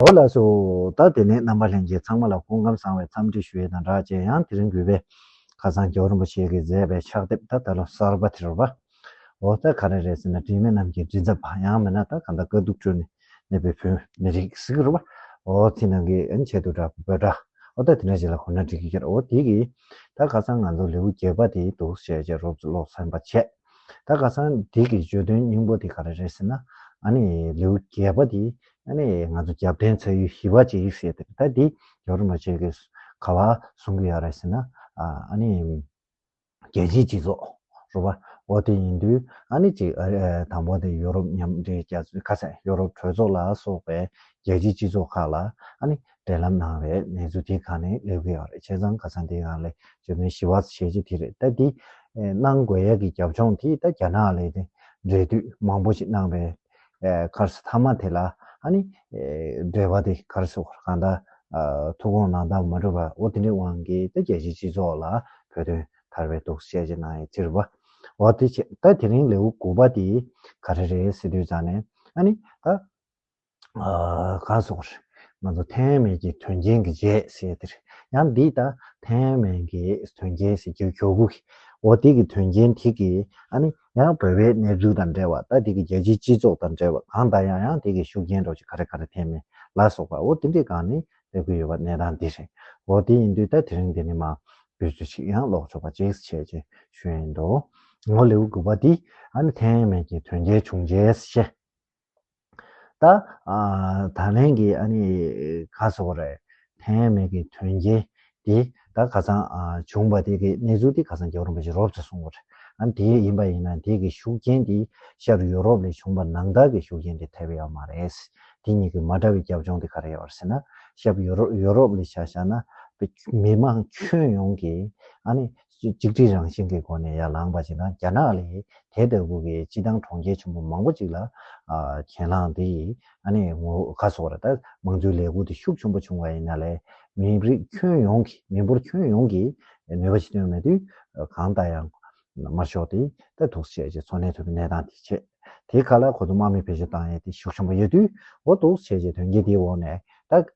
ཨོ་ལགས་སུ་ད་དེ་ནས་རྣམ་པ་ལྷན་རྒྱས་ཚང་མ་ལ་སྐུ་ཁམས་བཟང་བའི་འཚམས་འདྲི་ཞུ་ཡས་དང་སྦྲགས་བཅས་ཡང་དེ་རིང་གུས་པས་ཁ་སང་རྒྱལ་བ་རིན་པོ་ཆེ་གིས་མཛད་པའི་ཕྱག་དེབ་ད་ད་ལོ་གསར་པ་དེ་རུ་བ་འོ་ད་ག་རེ་རེད་ཟེར་ན་དྲི་མེད་རྣམས་ཀྱི་དྲི་ཟབ་བ་ཡང་མིན་ན་ད་ག་འདའ་དཀའ་སྡུག་ཁྲོད་ནས་གནས་པའི་བོད་མི་རིགས་གཟིགས་རུ་བ་འོ་དེ་ནང་གི་ཨན་ཆད་དུ་བསྒྲགས་པའི་འབོད་སྒྲ་འོ་ད་དེ་འདྲ་ཞིག་ལ་གོ་ན་འགྲིག་གི་འོ་དེ་གིས་ད་ག་སང་ང་ཚོ་ལེའུ་བརྒྱད་པ་དེའི་དུག་ཤད་ཅེས་རོབ་ཙི་ཀློག་ཚན་པ་བྱས། ད་ག་ཚང་འདི་གི་བརྗོད་དོན་སྙིང་པོ་དེ་ག་རེ་རེད་ཟེར་ན། ཨ་ནི་ལེའུ་བརྒྱད་པ་དེ་ཨ་ནི་ང་ཚོ་རྒྱབ་བརྟེན་ཚ་ཡུལ་ཧི་བ་ཅི་རིགས་ཟེར་དེ་ད་འདི་རྒྱ་རུ་མ་བྱེད་གི་ག་བ་གསུང་གི་ཡོད་རེད་ཟེར་ན། ཨ་ནི་རྒྱལ་སྤྱིའི་སྤྱི་ཚོགས་རུ་བ་འོ་དེ་ཡིན་དུས་ཨ་ནི་ཅིག་དང་པོ་དེ་ཡོ་རོབ་མཉམ་འབྲེལ་རྒྱ་མཚོའི་ཁ་ཚ་ཡོ་རོབ་གྲོས་ཚོགས་ལ་སོགས་པའི་རྒྱལ་སྤྱིའི་སྤྱི་ཚོགས་ཁག་ལ་ཨ་ནི་འབྲེལ་ལམ་ནང་རེད་གནས་ཚུལ་དེ་ག་ནས་ལོས་གི་ཡོད་རེད་བྱས་ཙང་ག་ཚང་དེ་ག་ལས་བྱོས་མིན་ཞི་བ་བྱས་རྗེས་དེ་རེད་ད་དེ་གནང་དགོས་ཡག་གི་རྒྱབ་ལྗོངས་དེ་ད་རྒྱ་ནག་ལས་དེ་འབྲེལ་མཐུད་མང་པོ་ཞིག་གནང་རེད་ཁར་སི་མཐའ་མ་དེ་ལ་ཧ་ནི་འབྲེལ་བ་དེ་ཁར་སི་བར་གང་ད་ཐུགས་དགོངས་ནང་དང་མ་འགྲུབ་པ་འོ་དེ་འདྲའི་དབང་གིས་ད་རྒྱལ་སྤྱིའི་སྤྱི་ཚོགས་ལ་བོད་དོན་ཐར་བའི་དུག་སེལ་བྱས་གནང་ཡས་ཚིར་བ་འོ་དེ་བྱས་ད་དེ་རིང་ལེའུ་དགུ་པ་དེ་ག་རེ་རེད་སི་དུས་ཙང་ནས་ཨ་ནི་ད། ག་སོགས་རེད། ང་ཚོ་ཐའེ་ཝན་གྱི་དོན་རྐྱེན་གྱི་རྗེས་ཟེར་དེ་རེད། ཡང་འདི་ལྟར་ཐའེ་ཝན་གྱི་དོན་རྐྱེན་ཟེར་རྒྱུའི་གྱོ་གུ་གི་འོ་དེ་གི་དོན་རྐྱེན་དེ་གི་ཨ་ནི་ཡང་བོད་པའི་གནས་ཚུལ་དང་འབྲེལ་བ་ལྟ་དེ་གི་རྒྱལ་སྤྱིའི་སྤྱི་ཚོགས་དང་འབྲེལ་བ་གང་ལྟ་ཡང་ཡང་དེ་གི་ཤུགས་རྐྱེན་འགྲོ་ཆེད་ག་རེ་ག་རེ་ཐེ་མེ་ལ་སོགས་པ་འོ་དེ་འདྲས་གང་ནི་སྟེར་གི་ཡོད་པ་གནས་སྟངས་འདི་རེད། འོ་དེ་ཡིན་དུས་ད་དེ་རིང་འདི་ནས་མ་བུ་ཚོ་ཞིག་ཡང་ལོག་ཆོག་པ་ཅིག་བྱས་ཅེས་ཞུ་ཡིན་འདུག་ངོ་ལེའུ་དགུ་པ་འདི་ཨ་ནི་ཐའེ་ཝན་གྱི་དོན་རྐྱེན་བྱུང་རྗེས་བཤད། ད། ད་ལན་གྱི་ཨ་ནི་ག་སོགས་རེད། ཐེངས་ཡས་མས་ཀྱི་དོན་རྐྱེན་དེ་ད་ག་ཚང་བྱུང་བ་དེ་གི་གནས་ཚུལ་དེ་ག་ཚང་རྒྱ་གར་རིན་པོ་ཆེས་རོབ་ཙེ་གསུངས་བ་རེད། ཨ་ནི་དེ་ཡིན་པ་ཡིན་ན་དེ་གི་ཤུགས་རྐྱེན་དེ་ཤར་ཡུ་རོབ་ལས་བྱུང་བ་ནང་བདག་གི་ཤུགས་རྐྱེན་དེ་ཐེབས་ཡོད་མ་རེད། དེ་གཉིས་ཀྱི་མ་འདྲ་བའི་རྒྱབ་ལྗོངས་དེ་ག་རེ་ཡོད་རེད་ཟེར་ན། ཤབ་ཡུ་རོབ་ལས་ཆ་བཞག་ན། མི་མང་ཁྱོན་ཡོངས་ཀྱིས་ཨ་ནི་གཅིག་སྒྲིལ་རང་བཞིན་གྱི་སྒོ་ནས་ཡར་ལངས་པ་བྱེད་ན་རྒྱ་ནག་ལས་དེ་ལྟ་བུ་གྱི་སྤྱི་བཏང་གྲོང་ཁྱེར་ཆེན་པོ་མང་པོ་ཅིག་ལ་གྱེན་ལངས་ཏེ་ཨ་ནེ་ངོ་ག་སོགས་ར་ད་མང་གཙོའི་ལས་འགུལ་དེ་ཤུགས་ཆེན་པོ་བྱུང་བ་ཡིན་ན་ལས་མི་རིགས་ཁྱོན་ཡོངས་ཀྱི་མི་འབོར་ཁྱོན་ཡོངས་ཀྱི་ནུས་པ་ཇི་ཏོན་མེད་དུས་གང་ལྟ་ཡང་མར་ཤོག་དེ་ལྟ་ཐུགས་ཆེ་བྱས་འཚོ་གནས་ཐུབ་པའི་གནས་སྟངས་དེ་ཆེད་དེའི་ཁ་ལ་གོ་དུ་དམག་མི་བེད་སྤྱོད་བཏང་ཡས་དེ་ཤུགས་ཆེན་པོ་ཡོད་དུས་འོ་ཐུགས་ཆེ་བྱས་དོན་རྐྱེན་དེའི་འོག་ནས་ད་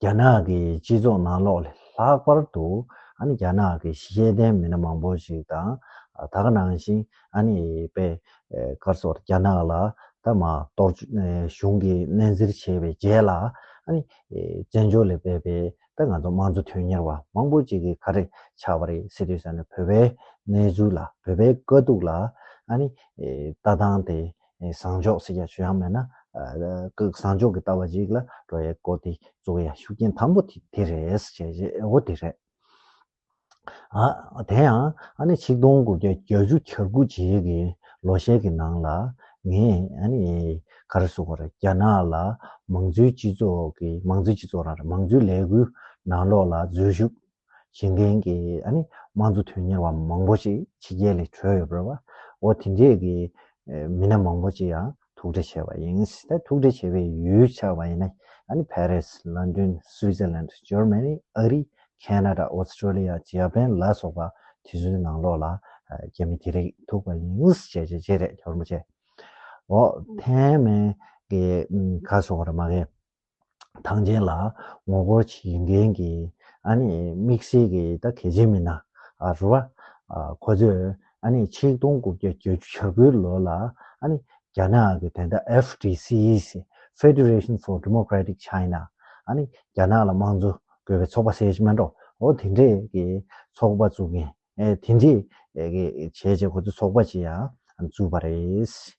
རྒྱ་ནག་གི་སྤྱི་ཚོགས་ནང་ལོགས་ལྷག་པར་དུ་རྒྱ་ནག་གི་ཤེས་ལྡན་མི་སྣ་མང་པོ་ཞིག་དང་དག་སྣང་བཞིན་པད་དཀར་སོགས་རྒྱ་ནག་ལ་ད་མ་གཏོགས་གཞུང་གིས་སྣེ་འཛིར་བྱས་པའི་རྗེས་ལ་བཙན་བྱོལ་ལས་བསད་པའི་ད་ང་ཚོ་དམངས་གཙོ་དོན་གཉེར་བ་མང་པོ་ཅིག་གིས་ག་རེ་ཆགས་པ་རེད་ཟེར་དུས་བོད་པའི་གནས་ཚུལ་ལ་བོད་པའི་དཀའ་སྡུག་ལ་ལྟ་སྟངས་དེ་བཟང་ཕྱོགས་ཟེར་ཡག་ཤོས་ཡང་མེད་ན། བཟང་ཕྱོགས་ཀྱི་ལྟ་བ་ཞིག་ལ་འགྲོ་ཡག་གོ་དེ་གཙོ་བོ་ཡང་ཤུགས་རྐྱེན་དམ་པོ་དེ་རེད་ཟེར་བྱས་ཨེ་འོ་དེ་རེད། དེ་ཡང་ཨ་ནི་ཆིག་སྟོང་དགུ་བརྒྱ་གྱ་བཅུ་གྱ་དགུ་རྗེས་ཀྱི་ལོ་ཤས་ཀྱི་ནང་ལ་ངས་ཨ་ནི་ག་རེ་གསུངས་པ་རེད་རྒྱ་ནག་ལ་མང་གཙོའི་སྤྱི་ཚོགས་ཀྱི་མང་གཙོའི་སྤྱི་ཚོགས་རང་རེད་མང་གཙོའི་ལས་འགུལ་ནང་ལོགས་ལ་འཛུལ་ཞུགས་གཞན་ཕན་གྱི་དམངས་གཙོ་དོན་གཉེར་བ་མང་པོ་ཞིག་ཕྱི་རྒྱལ་ལས་བྲོས་ཡོད་པར་བའོ། དེ་འདྲའི་གི་མི་སྣ་མང་པོ་ཅིག་ཡང་ཐུག་འཕྲད་བྱས་པ་ཡིན། ད་ཐུག་འཕྲད་བྱས་པའི་ཡུལ་ཆགས་པ་ཡིན་ན་ཕ་རིས། ལོན་ཏོན། སུའི་ཙེར་ལན། ཇོར་མན་ནི། ཨ་རི། ཁན་ན་ར། ཨོས་ཏྲོ་ལི་ཡ། ཇི་ཡ་པན་ལ་སོགས་པ་དེ་ཚོའི་ནང་ལོགས་ལ་རྒྱ་མི་དེ་རིགས་ཐུག་པ་ཡིན། བྱས་བྱས་བྱས་རེད་ཁྱོར་མོ་བྱས། འོ། ཐན་མན་གི་ག་སོང་བ་རེད་མ་གས། ཐང་ཆེན་ལ་ངོ་རྒོལ་བྱེད་ཀྱི་མཁན་གྱི་ཨ་ནི་དམིགས་བསལ་གྱི་ད་གལ་ཆེན་མི་སྣ་རུ་བ། ཁོ་ཚོས་ཨ་ནི་ཆིག་སྟོང་དགུ་བརྒྱ་བརྒྱད་ཅུ་ཆ་དགུའི་ལོ་ལ་ཨ་ནི་རྒྱ་ནག་གི་དེ་ད FDC Federation for Democratic China ཨ་ནི་རྒྱ་ནག་ལ་དམངས་གཙོ་དགོས་པའི་ཚོགས་པ་སེར་སྨད་འགྲོ་འོ་དེ་འདྲས་ཀྱི་ཚོགས་པ་བཙུགས་མཁན་དེ་འདྲས་ཀྱི་བྱས་རྗེས་ཁོ་ཚོས་ཚོགས་པ་ཅི་ཡང་བཙུགས་པ་རེད།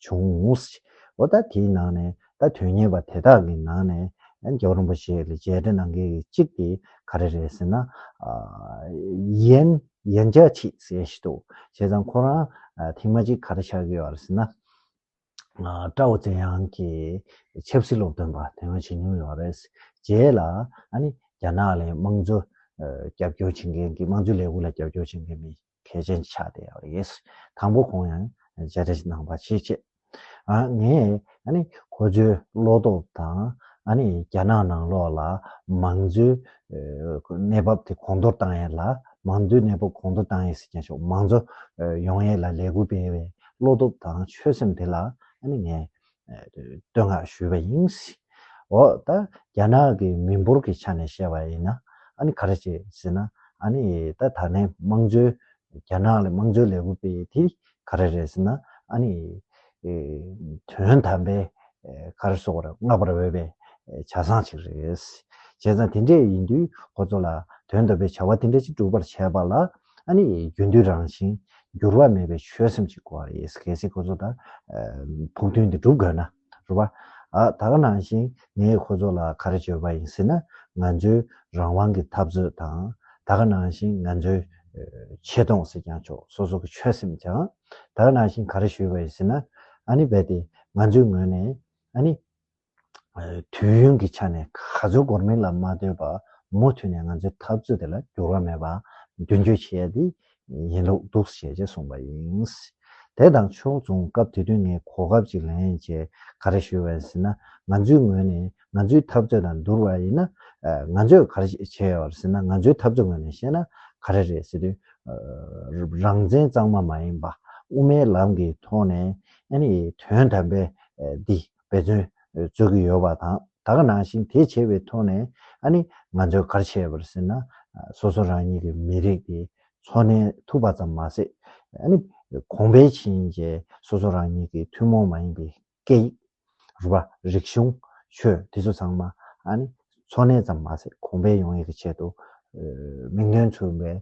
བྱུང། འོ་ད་དེའི་ནང་ནས་ད་དོན་གཉེར་བ་དེ་དག་གི་ནང་ནས་རྒྱལ་བ་རིན་པོ་ཆེ་ལས་རྗེས་དྲན་གནང་མཁན་གྱི་གཅིག་དེ་ག་རེ་རེད་ཟེར་ན། ཡན་ཡན་ཅཱ་ཆི་ཟེར་ཡང་ཞིག་འདུག་བྱས་ཙང་ཁོ་རང་ཐེངས་མ་གཅིག་ག་རེ་ཆགས་ཀྱི་ཡོད་རེད་ཟེར་ན། ཀྲའོ་ཙེ་ཡང་གི་ཆབ་སྲིད་སློབ་སྟོན་པ་དེ་སྔོན་བྱེད་མྱོང་ཡོད་རེད། རྗེས་ལ་ཨ་ནི་རྒྱ་ནག་ལས་དམངས་གཙོ་རྒྱབ་སྐྱོར་བྱེད་མཁན་གྱི་དམངས་གཙོའི་ལས་ཁུངས་ལ་རྒྱབ་སྐྱོར་བྱེད་མཁན་མི་གལ་ཆེན་ཆགས་བསྡད་ཡོད་རེད། དང་པོ་ཁོང་ཡང་མཇལ་འཕྲད་གནང་པ་ཆེས་ཆེ། ངས་ཁོ་ཚོའི་བློ་སྟོབས་དང་རྒྱ་ནག་ནང་ལོགས་ལ་མང་གཙོའི་གནས་བབ་དེ་གོང་མཐོར་གཏང་ཡས་ལ་མང་གཙོའི་གནས་བབ་གོང་མཐོར་གཏང་ཡས་ཟེར་མཁན་ཤོག་མང་གཙོ་ཡོང་ཡས་ལ་ལས་འགུལ་སྤེལ་བའི་བློ་སྟོབས་དང་ཆོད་སེམས་དེ་ལ་ངས་བསྟོད་བསྔགས་ཞུས་པ་ཡིན། འོ་ད་རྒྱ་ནག་གི་མི་འབོར་གྱི་ཆ་ནས་བཤད་པ་ཡིན་ན་ཨ་ནི་ག་རེ་བྱེད་ཟེར་ན་ཨ་ནི་ད་ད་ནས་དམངས་གཙོའི་རྒྱ་ནག་ལ་དམངས་གཙོའི་ལས་འགུལ་སྤེལ་དེ་ག་རེ་རེད་ཟེར་ན་ཨ་ནི་དོན་དམ་པའི་ག་རེ་སོགས་ར་བསྔགས་པར་འོས་པའི་བྱ་བཟང་ཞིག་རེད། བྱས་ཙང་དེ་འདྲས་ཡིན་དུས་ཁོ་ཚོ་ལ་དོན་དམ་པའི་བྱ་བ་དེ་འདྲ་ཅིག་སྒྲུབ་པར་བྱས་པ་ལ་ཨ་ཨ་ནི་རྒྱུན་མཐུད་རང་བཞིན་འགྱུར་བ་མེད་པའི་ཆོད་སེམས་ཀྱིས་བསྐོར་བ་ཡིས་གལ་སྲིད་ཁོ་ཚོ་དང་ཕུགས་འདུན་འདི་འགྲུབ་དགོས་ན་རེད་བ། ད་ག་ནང་བཞིན་ངས་ཁོ་ཚོ་ལ་ག་རེ་བརྗོད་པ་ཡིན་ཟེར་ན་ང་ཚོའི་རང་དབང་གི་འཐབ་རྩོད་དང་ད་ག་ནང་བཞིན་ང་ཚོའི་ཆེ་མཐོང་ཟེར་ཀྱང་ཆོག་སོ་སོ་གི་ཆོད་སེམས་ཀྱང་ད་ག་ནང་བཞིན་ག་རེ་ཞུས་པ་ཡིན་ཟེར་ན་ཨ་ནི་རྦད་དེ་ང་ཚོའི་ངོས་ནས་ཨ་ནི་དུས་ཡུན་གྱི་ཆ་ནས་ག་ཚོད་འགོར་མིན་ལ་མ་ལྟོས་པར་མུ་མཐུད་ནས་ང་ཚོས་འཐབ་རྩོད་དེ་ལ་འགྱུར་བ་མེད་པར་མདུན་སྐྱོད་བྱེད་ཡ་དེ་ཡིན་ལུགས་འདུག་ཞེས་ཅེས་གསུངས་པ་ཡིན། དེ་དང་ཕྱོགས་མཚུངས་སྐབས་དེ་དུས་ངས་གོ་སྐབས་ཅིག་ལེན་རྗེས་ག་རེ་ཞུས་པ་ཡིན་ཟེར་ན་ང་ཚོའི་ངོས་ནས་ང་ཚོའི་འཐབ་རྩོད་དང་བསྡུར་བ་ཡིན་ན་ང་ཚོས་ག་རེ་བྱས་ཡོད་པ་རེད་ཟེར་ན་ང་ཚོའི་འཐབ་རྩོད་ངོས་ནས་བཤད་ན་ག་རེ་རེད་ཟེར་དུས། རང་བཙན་གཙང་མ་མ་ཡིན་པ་དབུ་མའི་ལམ་གྱི་ཐོག་ནས་དོན་དམ་པའི་འདི། འབད་བརྩོན་རྩོད་ཀྱི་ཡོད་པ་དང་ད་ག་ནང་བཞིན་དེ་བྱས་པའི་ཐོག་ནས་ཨ་ནི་ང་ཚོས་གར་བྱས་པར་ཟེར་ན་སོ་སོ་རང་ཉིད་ཀྱི་མི་རིགས་དེ་འཚོ་གནས་ཐུབ་པ་ཙམ་མ་ཟད་ཨ་ནི་གོང་འཕེལ་ཕྱིན་རྗེས་སོ་སོ་རང་ཉིད་ཀྱི་ཐུན་མོང་མ་ཡིན་པའི་སྐད་ཡིག། རུས་པ། རིག་གཞུང། ཆོས་དེ་ཚོ་ཚང་མ་ཨ་ནི་འཚོ་གནས་ཙམ་མ་ཟད་གོང་འཕེལ་ཡོང་ཡས་ཀྱི་ཆེད་དུ་མིག་མདུན་མཚོན་པའི་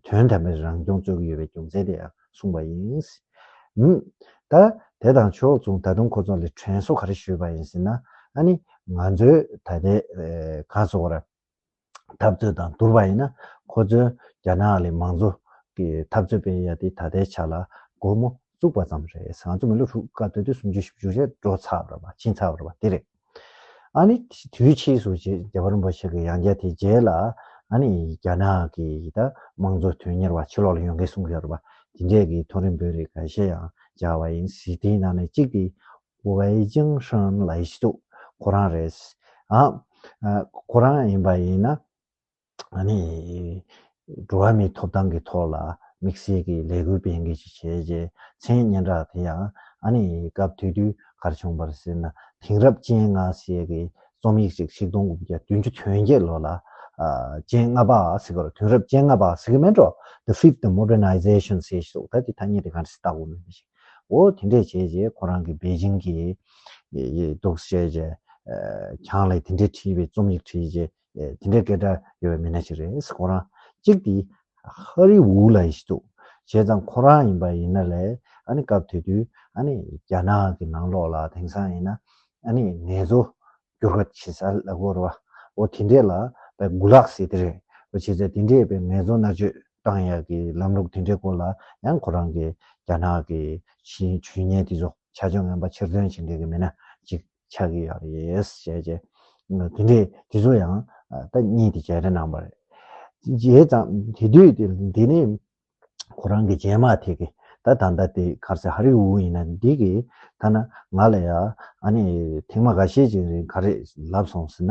དོན་དམ་པའི་རང་སྐྱོང་རྩོད་ཀྱི་ཡོད་པའི་རྒྱུ་མཚན་དེ་ཡང་གསུངས་པ་ཡིན། ད། དེ་དང་ཕྱོགས་མཚུངས་ད་དུང་ཁོ་ཚོ་ལ་དྲན་གསོ་ག་རེ་ཞུས་པ་ཡིན་ཟེར་ན། ཨ་ནི། ང་ཚོའི་ད་ལྟའི་གངས་ལྕོག་བར་འཐབ་རྩོད་དང་བསྡུར་བ་ཡིན་ན། ཁོ་ཚོའི་རྒྱ་ནག་ལའི་མང་གཙོ་གི་འཐབ་རྩོད་སྤེལ་ཡ་དེ་ད་ལྟའི་ཆ་ལ་སྒོར་མོ་བཙུགས་པ་ཙམ་རེད་ཟེར་ང་ཚོ་མི་ལོ་དྲུག་དཀའ་སྡོད་དུས་སུམ་ཅུ་ཞིབ་བཅུ་རེ་འགྲོ་ཚར་བ་རེད་ཕྱིན་ཚར་བ་རེད་དེ་རེད། ཨ་ནི་དུས་ཕྱིས་སུ་རྗེ་བ་རིན་པོ་ཆེ་གི་ཡང་རྒྱལ་དེའི་རྗེས་ལ་ཨ་ནི་རྒྱ་ནག་གི་དམངས་གཙོ་དོན་གཉེར་བ་ཕྱི་ལོག་ལ་ཡོང་མཁན་གསུང་གི་ཡོད་རེད་དེ་འདྲས་ཀྱི་མཐོ་རིམ་བོད་རིགས་ག་ཤེད་ཡང་སྦྱར་བ་ཡིན་སྲིད་དེའི་ནང་ནས་གཅིག་དེ་ཝའི་ཅང་ཧྲན་ལའི་སི་ཏུ་ཁོ་རང་རེད། ཨ་ཁོ་རང་ཡིན་པ་ཡིན་ན། འགྲོ་བ་མིའི་ཐོབ་ཐང་གི་ཐོག་ལ་དམིགས་བསལ་གྱི་ལས་འགུལ་སྤེལ་མཁན་ཞིག་བྱས་རྗེས་མཚན་སྙན་གྲགས་དེ་ཡང་སྐབས་དུས་དུས་གར་བྱུང་བར་ཟེར་ན་དེང་རབས་སྤྱན་སྔ་ཞེས་པའི་རྩོམ་ཡིག་ཅིག་ཞིག་སྟོང་དགུ་བརྒྱ་བདུན་ཅུ་དོན་བརྒྱད་ལོ་ལ་སྤྱན་སྔ་པ་ཟེར་བར་དུས་རབས་སྤྱན་སྔ་པ་ཟེར་གྱི་མེད་འགྲོ The Fifth Modernization ཞེས་སོགས་ད་ལྟའི་ཐ་སྙད་དེ་ག་རེ་ཟེར་བརྟག་གོ་མེད་པ་ཞིག་འོ་དེ་འདྲས་བྱས་རྗེས་ཁོ་རང་གིས་པེ་ཅིང་གི་འདུག་བྱས་རྗེས་ཁྱང་ལས་དེ་འདྲས་བྲིས་པའི་རྩོམ་ཡིག་བྲིས་རྗེས་དེ་འདྲའི་སྐད་སྒྲ་ཡོད་པའི་མི་སྣ་ཞིག་རེད་ཁོ་རང། གཅིག་དེ། ཧ་རི་ཝུའུ་ལ་ཡིན་ཞིག་འདུག་བྱས་ཙང་ཁོ་རང་ཡིན་པ་ཡིན་ན་ལས་ཨ་ནི་སྐབས་དེ་དུས་ཨ་ནི་རྒྱ་ནག་གི་ནང་ལོགས་ལ་དེང་སང་ཡིན་ན་ཨ་ནི་ངལ་རྩོལ་སྒྱུར་བ་བྱེད་ས་ལ་གོ་རོ་བ་འོ་དེ་འདྲས་ལ་བས་དགུ་ལག་ཟེར་དེ་རེད་བ་བྱས་ཙང་དེ་འདྲས་བས་ངལ་རྩོལ་མནར་གཅོད་བཏང་ཡག་གི་ལམ་ལུགས་དེ་འདྲས་སྐོར་ལ་ཡང་ཁོ་རང་གི་རྒྱ་ནག་གི་ཆེས་ཇུས་ཉེན་དེ་ཚོ་ཆ་ཆོས་ངན་པ་ཕྱིར་འདོན་བྱེད་མཁན་གི་མི་སྣ་གཅིག་ཆགས་ཀྱི་ཡོད་རེད་ཟེར་བྱས། དེ་འདྲའི་དེ་ཚོ་ཡང་ད་གཉིས་དེ་བྱས་རེ་གནང་བ་རེད། བྱས་ཙང་དེ་དུས་དེ་འདི་ནི་ཁོ་རང་གི་རྗེས་མ་དེ་གི་ད་ད་ལྟ་དེ་གར་སེ་ཧ་རི་ཝུ་ཡིན་ན་འདི་གི་ཐ་ན་ང་ལ་ཡང་ཨ་ནི་ཐེངས་མ་ག་ཤེད་ཅིག་རིང་ག་རེ་ལབ་སོང་ཟེར་ན་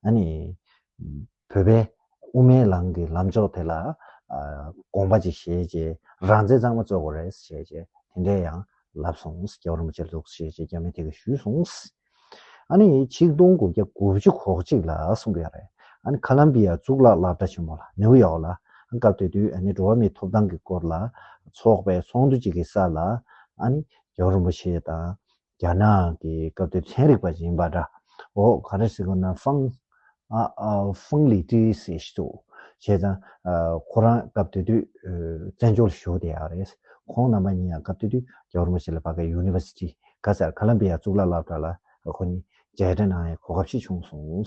ཨ་ནི། བོད་པས་དབུ་མའི་ལམ་གྱི་ལམ་ཕྱོགས་དེ་ལ་དགོངས་པ་ཅིག་བཞེས་རྗེས་རང་བཙན་གཙང་མ་རྩོད་དགོས་རེད་ཟེར་བྱས་རྗེས་དེ་འདྲས་ཡང་ལབ་སོང་རྒྱ་བ་རིན་པོ་ཆེར་འདུག་ཟེར་བྱས་རྗེས་རྒྱ་མིས་དེ་ག་ཞུས་སོང། ཨ་ནི་ཆིག་སྟོང་དགུ་བརྒྱ་དགུ་བཅུ་གོ་གཅིག་ལ་གསུངས་པ་ཡང་རེད། ཨ་ནི་ཁ་ལམ་བྷི་ཡ་གཙུག་ལག་བླ་གྲྭ་ཆེན་མོ་ལ་ནེའུ་ཡོག་ལ་སྐབས་དེ་དུས་ཨ་ནི་འགྲོ་བ་མིའི་ཐོབ་ཐང་གི་སྐོར་ལ་ཚོགས་པའི་ཚོགས་འདུ་ཅིག་གི་ས་ལ་ཨ་ནི་རྒྱ་བ་རིན་པོ་ཆེ་དང་རྒྱ་ནག་གི་སྐབས་དེར་ཚན་རིག་པ་ཞིག་ཡིན་པ་འདྲ། འོ་ག་རེ་ཟེར་དགོས་ན་ཧྥང། Feng Li Ti། ཞེས་ཤི་འདུག་བྱས་ཙང། ཁོ་རང་སྐབས་དེ་དུས་བཙན་བྱོལ་ལ་བཞུགས་བསྡད་ཡག་རེད། ཁོང་རྣམ་པ་གཉིས་ཡང་སྐབས་དེ་དུས་རྒྱ་གར་མོ་ཆེ་ལ་བ་གའི University། ག་ཚར Columbia གཙུག་ལག་བསླབ་གྲྭ་ལ་ཁོ་གཉིས་མཇལ་འཕྲད་གནང་ཡའི་གོ་སྐབས་ཤིག་བྱུང་སོང།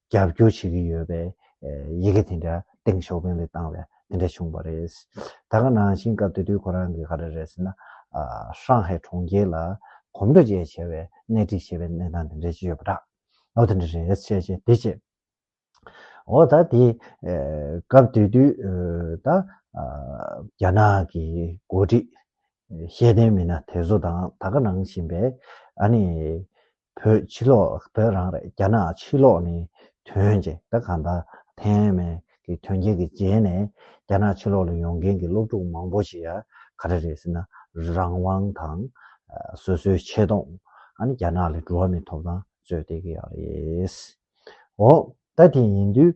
རྒྱབ་སྐྱོར་བྱེད་ཀྱི་ཡོད་པའི་ཡི་གེ་དེ་འདྲ་ཏེང་ཞའོ་ཕིང་ལ་བཏང་བས་དེ་འདྲ་བྱུང་བ་རེད། ད་ག་ནང་བཞིན་སྐབས་དེ་དུས་ཁོ་རང་གིས་ག་རེ་རེད་ཟེར་ན། ཧྲང་ཧའེ་གྲོང་ཁྱེར་ལ་གོམ་བགྲོད་བཅས་བྱས་བས་གནད་སྒྲིག་བྱས་པའི་གནས་སྟངས་དེ་འདྲ་ཞིག་ཡོད་པ་འདྲ། ཨོ་དེ་འདྲ་རེད་བཤད་བྱས་དེ་བྱས། འོ་ད་དེ་སྐབས་དེ་དུས་ད་རྒྱ་ནག་གི་འགོ་ཁྲིད་ཤེས་ལྡན་མི་སྣ་དེ་ཚོ་དང་ད་ག་ནང་བཞིན་པའི་ཨ་ནི་བོད་ཕྱི་ལོགས་བོད་རང་རེད་རྒྱ་ནག་ཕྱི་ལོགས་ནི་དོན་ཅི་ད་ག་ད་ཐེན་མེན་གི་དོན་རྒྱལ་གི་རྗེས་ནས་རྒྱ་ནག་ཕྱི་ལོགས་ལ་ཡོང་མཁན་གི་སློབ་ཕྲུག་མང་པོ་ཞིག་ཡ་ག་རེ་རེད་ཟེར་ན་རང་དབང་དང་སོ་སོའི་ཆེ་མཐོང་ཨ་ནི་རྒྱ་ནག་ལས་འགྲོ་བ་མི་ཐོབ་ཐང་རྩོད་བསྡད་གི་ཡ་རེད། འོ་ད་དེ་ཡིན་དུས་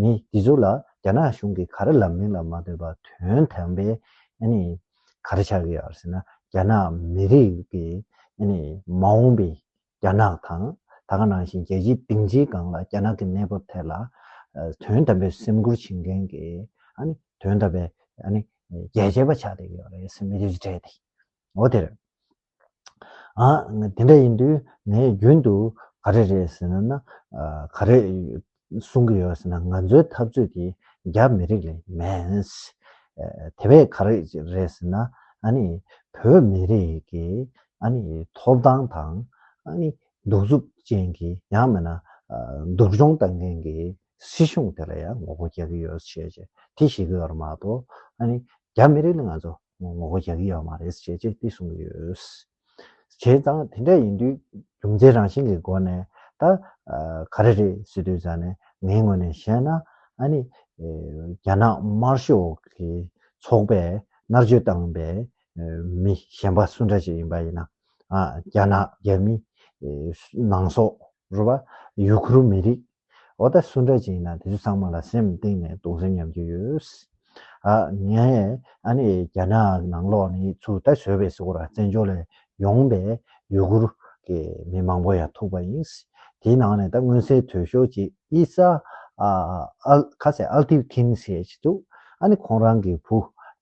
ནི་འདི་ཚོ་ལ་རྒྱ་ནག་གཞུང་གིས་ག་རེ་ལབ་མིན་ལ་མ་ལྟོས་པར་དོན་དམ་པའི་ག་རེ་ཆགས་ཀྱི་ཡོད་ཟེར་ན་རྒྱ་ནག་མི་རིགས་ཀྱི་མ་འོངས་པའི་རྒྱ་ནག་དང་ད་སྔ་ནང་བཞིན་རྒྱལ་སྤྱིའི་སྡིངས་ཆའི་སྒང་ལ་རྒྱ་ནག་གི་གནས་བབ་ཐད་ལ་དོན་དམ་པའི་སེམས་ཁུར་བྱེད་མཁན་གྱི་དོན་དམ་པའི་རྒྱལ་གཅེས་པ་ཆགས་བསྡད་ཀྱི་ཡོད་རེད་སེམས་མི་རིགས་གཅེས་ཏེ། འོ་དེར། ཨང། དེ་འདྲ་ཡིན་དུས་ངས་རྒྱུན་དུ་ག་རེ་རེད་ཟེར་ན་ན། ག་རེ་གསུང་གི་ཡོད་ཟེར་ན་ང་ཚོའི་འཐབ་རྩོད་ཀྱི་རྒྱ་མི་རིགས་ལས་མེད། དེ་བས་ག་རེ་རེད་ཟེར་ན་ཨ་ནི། བོད་མི་རིགས་ཀྱི་ཨ་ནི་ཐོབ་ཐང་དང་ཨ་ནི་གདུག་རྩུབ་ཅན་གྱི་ཡང་མེད་ན། སྡུག་སྦྱོང་བཏང་མཁན་གྱི་སྲིད་གཞུང་དེ་ལ་ཡང་ངོ་རྒོལ་རྒྱག་གི་ཡོད་ཟེར་བཤད་བྱས་དེ་ཤི་གི་ཡོད་རེད་མ་གཏོགས་ཨ་ནི་རྒྱ་མི་རིགས་ལ་ང་ཚོ་ངོ་བོ་རྒྱག་གི་ཡོད་མ་རེད་ཅེས་བཅས་ཏེ་གསུངས་ཡོད། བྱས་ཙང་དེ་འདྲ་ཡིན་དུས་རྒྱུ་མཚན་རང་བཞིན་གྱི་སྒོ་ནས་ད་ག་རེ་རེད་ཟེར་དུས་ཙང་ནས་ངའི་ངོས་ནས་བཤད་ན་ཨ་ནི་རྒྱ་ནག་དམར་ཤོག་གི་ཚོགས་པས་མནར་གཅོད་བཏང་པའི་མི་གཞན་པ་སུ་འདྲ་ཞིག་ཡིན་པ་ཡིན་ན་རྒྱ་ནག་རྒྱ་མི་ནང་སོག་རུ་བ་ཡུ་གུར་མི་རིགས་འོ་ད་སུ་འདྲ་ཅིག་ཡིན་ན་དེ་ཚོ་ཚང་མ་ལ་སེམས་གཏིང་ནས་གདུང་སེམས་མཉམ་སྐྱེ་ཡོད། ཨ་ངས་ཨ་ནི་རྒྱ་ནག་ནང་ལོག་ནི་ཚུར་ད་བཟོད་པའི་སྐོར་བཙན་བྱོལ་ལས་ཡོང་པའི་ཡུ་གུར་གི་མི་མང་པོ་ཡང་ཐུག་པ་ཡིན། དེའི་ནང་ནས་ད་མངོན་གསལ་དོད་ཤོས་ཅིག་ཨི་ས་ཨལ་ཁ་སའི་ཨལ་ཏིའུ་ཁིན་ཞེས་ཅིག་འདུག་ཨ་ནི་ཁོང་རང་གི་བུ་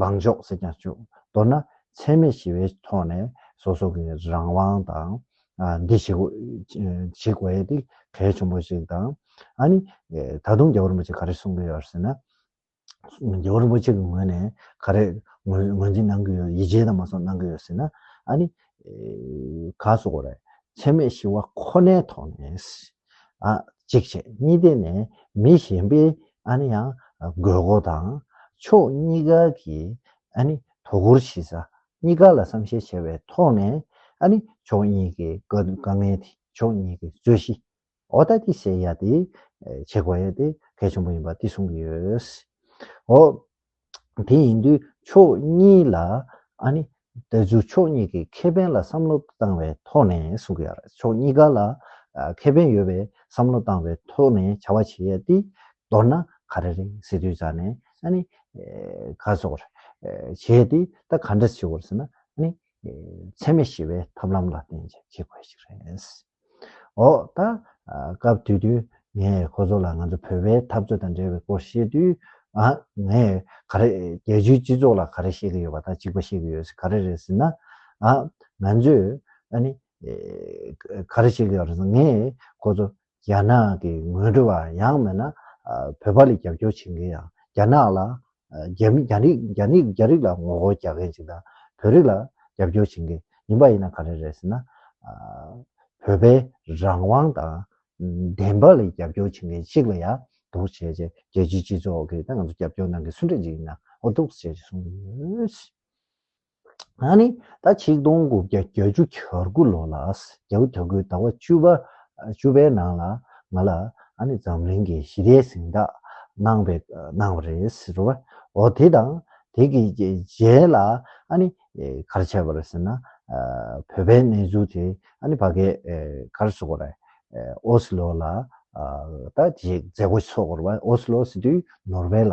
ལངས་ཕྱོགས་ཟེར་ཀྱང་ཆོག་མདོར་ན་འཚེ་མེད་ཞི་བའི་ཐོག་ནས་སོ་སོ་གི་རང་དབང་དང། འདི་ཞིག་ཞིག་བས་ཏེ་གལ་ཆེན་པོ་ཞིག་དང། ཨ་ནི། ད་དུང་རྒྱལ་བ་རིན་པོ་ཆེས་ག་རེ་གསུང་གི་ཡོད་ཟེར་ན། རྒྱལ་བ་རིན་པོ་ཆེ་གི་ངོས་ནས་ག་རེ་ངོས་འཛིན་གནང་གི་ཡོད་ཡིད་ཆེས་དང་མ་སོགས་གནང་གི་ཡོད་ཟེར་ན། ཨ་ནི། ག་སོགས་རེད། འཚེ་མེད་ཞི་བ་ཁོ་ནའི་ཐོག་ནས། གཅིག་བྱས་གཉིས་བསྡད་ནས་མི་གཞན་པའི་ཨཱ་ནི་ཡང་དགོས་མཁོ་དང་ཕྱོགས་གཉིས་ཀ་གི་ཨཱ་ནི་དོ་ཁུར་གཞི་རྩ་གཉིས་ཀ་ལ་བསམ་ཤེས་བྱས་པའི་ཐོག་ནས་ཨཱ་ནི་ཕྱོགས་གཉིས་ཀྱི་དཀའ་ངལ་དེ་ཕྱོགས་གཉིས་ཀྱི་རྩོད་གཞི་འོག་ད་ཏི་སེལ་ཡ་དེ་བྱེད་དགོས་ཡ་དེ་གལ་ཆེན་པོ་ཡིན་པ་དེ་གསུང་གི་ཡོད། དེ་ཡིན་དུས་ཕྱོགས་གཉིས་ལ་ཨ་ནི། དེ་ཚོས་ཕྱོགས་གཉིས་ཀྱི་ཁེ་ཕན་ལ་བསམ་བློ་བཏང་བའི་ཐོག་ནས་གསུང་གི་ཡོད་རེད། ཕྱོགས་གཉིས་ཀ་ལ་ཁེ་ཕན་ཡོད་པའི་བསམ་བློ་བཏང་བའི་ཐོག་ནས་བྱ་བ་བྱེད་ཡས་ཏེ། མདོར་ན་ག་རེ་རེད་ཟེར་དུས་ཙང་ནས་ཨ་ནི། ག་སོགས་རེད། བྱེད་ཡས་ཏེ་ད་ག་འདྲ་བྱེད་དགོས་རེད་ཟེར་ན་ཨ་ནི། འཚེ་མེད་ཞི་བའི་ཐབས་ལམ་ལ་བརྟེན་ཅིང་བྱེད་དགོས་ཞིག་རེད། འོག་དང། སྐབས་དུས་དུས་ངས་ཁོ་ཚོ་ལ་ང་ཚོ་བོད་པའི་འཐབ་རྩོད་དང་འབྲེལ་བའི་སྐོར་བཤད་དུས། ངས་ག་རེ། རྒྱལ་སྤྱིའི་སྤྱི་ཚོགས་ལ་ག་རེ་བཤད་ཀྱི་ཡོད་པ་དང་གཅིག་པ་བཤད་ཀྱི་ཡོད་ག་རེ་རེད་ཟེར་ན། ང་ཚོས། ག་རེ་བཤད་ཀྱི་ཡོད་རེད་ཟེར་ན་ངས་ཁོ་ཚོ་རྒྱ་ནག་གི་ངོས་འགྲོ་བ་ཡང་མེད་ན། བོད་པ་ལ་རྒྱབ་སྐྱོར་བྱེད་མཁན་ཡང་རྒྱ་ནག་ལ་རྒྱ་མི་རྒྱ་རིགས་རྒྱ་མི་རྒྱ་རིགས་ལ་ངོ་རྒོལ་རྒྱག་མཁན་ཞིག་དང་བོད་རིགས་ལ་རྒྱབ་སྐྱོར་བྱེད་མཁན་ཡིན་པ་ཡིན་ན་ག་རེ་རེད་ཟེར་ན། བོད་པའི་རང་དབང་དང་བདེན་པ་ལ་རྒྱབ་སྐྱོར་བྱེད་མཁན་ཞིག་ལ་ཡང་དོགས་བྱས་རྗེས་རྒྱལ་སྤྱིའི་སྤྱི་ཚོགས་ཀྱིས་ད་ང་ཚོ་རྒྱབ་སྐྱོར་གནང་མཁན་སུ་འདྲ་ཞིག་ཡིན་ན་འོ་དོགས་བྱས་རྗེས་གསུངས་ཡོད། ད་ནི་ཟླ་ཆིག་སྟོང་དགུ་བརྒྱ་གྱ་བཅུ་གྱ་དགུ་ལོ་ལ་གྱ་དགུ་གྱ་དགུའི་ཟླ་བ་བཅུ་པ་བཅུ་པའི་ནང་ལ་ང་ལ་ཨ་ནི་འཛམ་གླིང་གི་ཞི་བདེའི་གཟེངས་རྟགས་གནང་བའི་གནང་བ་རེད་ཟེར་བ་འོ་དེ་དང་དེ་གི་རྗེས་ལ་ཨ་ནི་གར་བྱས་པ་རེད་ཟེར་ན་བོད་པའི་གནས་ཚུལ་དེ་ཨ་ནི་བ་གས་གར་སོ་གར་ཨོ་སི་ལོ་ལ་ད་དེ་མཛད་སྒོ་ཚོགས་པར་བ་ཨོ་སི་ལོ་སི་ཏུའི་ནོར་བྷེ་ལ་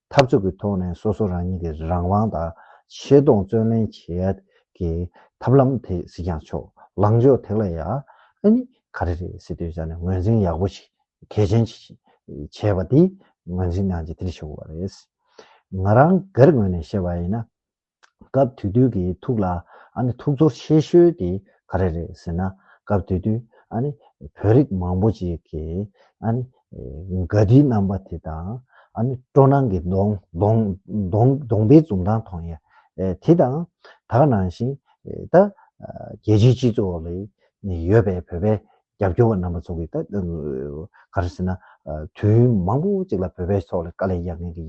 འཐབ་རྩོད་ཀྱི་ཐོག་ནས་སོ་སོ་རང་ཉིད་ཀྱི་རང་དབང་དང་ཆེ་མཐོང་བརྩོན་ལེན་བྱེད་ཡད་ཀྱི་ཐབས་ལམ་དེ་གཟིགས་ཀྱང་ཆོག་ལངས་ཕྱོགས་དེ་ལ་ཡ་ཨ་ནི་ག་རེ་རེད་སྲིད་དོན་ཆ་ནས་ངོས་འཛིན་ཡག་པོ་ཞིག་གལ་ཆེན་ཞིག་བྱས་པ་དེ་ངོས་འཛིན་གནང་རྗེས་དེར་ཞུགས་པ་རེད། ང་རང་སྒེར་ངོས་ནས་བཤད་པ་ཡིན་ན། སྐབས་དེ་དུས་ཀྱི་ཐུགས་ལ་ཨ་ནི་ཐུགས་ཚོར་ཆེ་ཤོས་དེ་ག་རེ་རེད་ཟེར་ན། སྐབས་དེ་དུས་ཨ་ནི་བོད་རིགས་མང་པོ་ཅིག་གིས་ཨ་ནི་དགའ་བདེའི་རྣམ་པ་དེ་དང། ཨ་ནི་སྤྲོ་སྣང་གི་གདོང་གདོང་གདོང་གདོང་པའི་འཛུམ་མདངས་མཐོང་ཡ། དེ་དང་དག་ནང་བཞིན་ད་རྒྱལ་སྤྱིའི་སྤྱི་ཚོགས་ལ་ཡོད་པའི་བོད་པའི་རྒྱབ་སྐྱོར་བ་རྣམ་པ་ཚོ་གིས་ད་ག་རེ་ཟེར་ན། དུས་ཡུན་མང་པོ་གཅིག་ལ་བོད་པའི་ཕྱོགས་ལ་དཀའ་ལས་རྒྱག་མཁན་གྱི་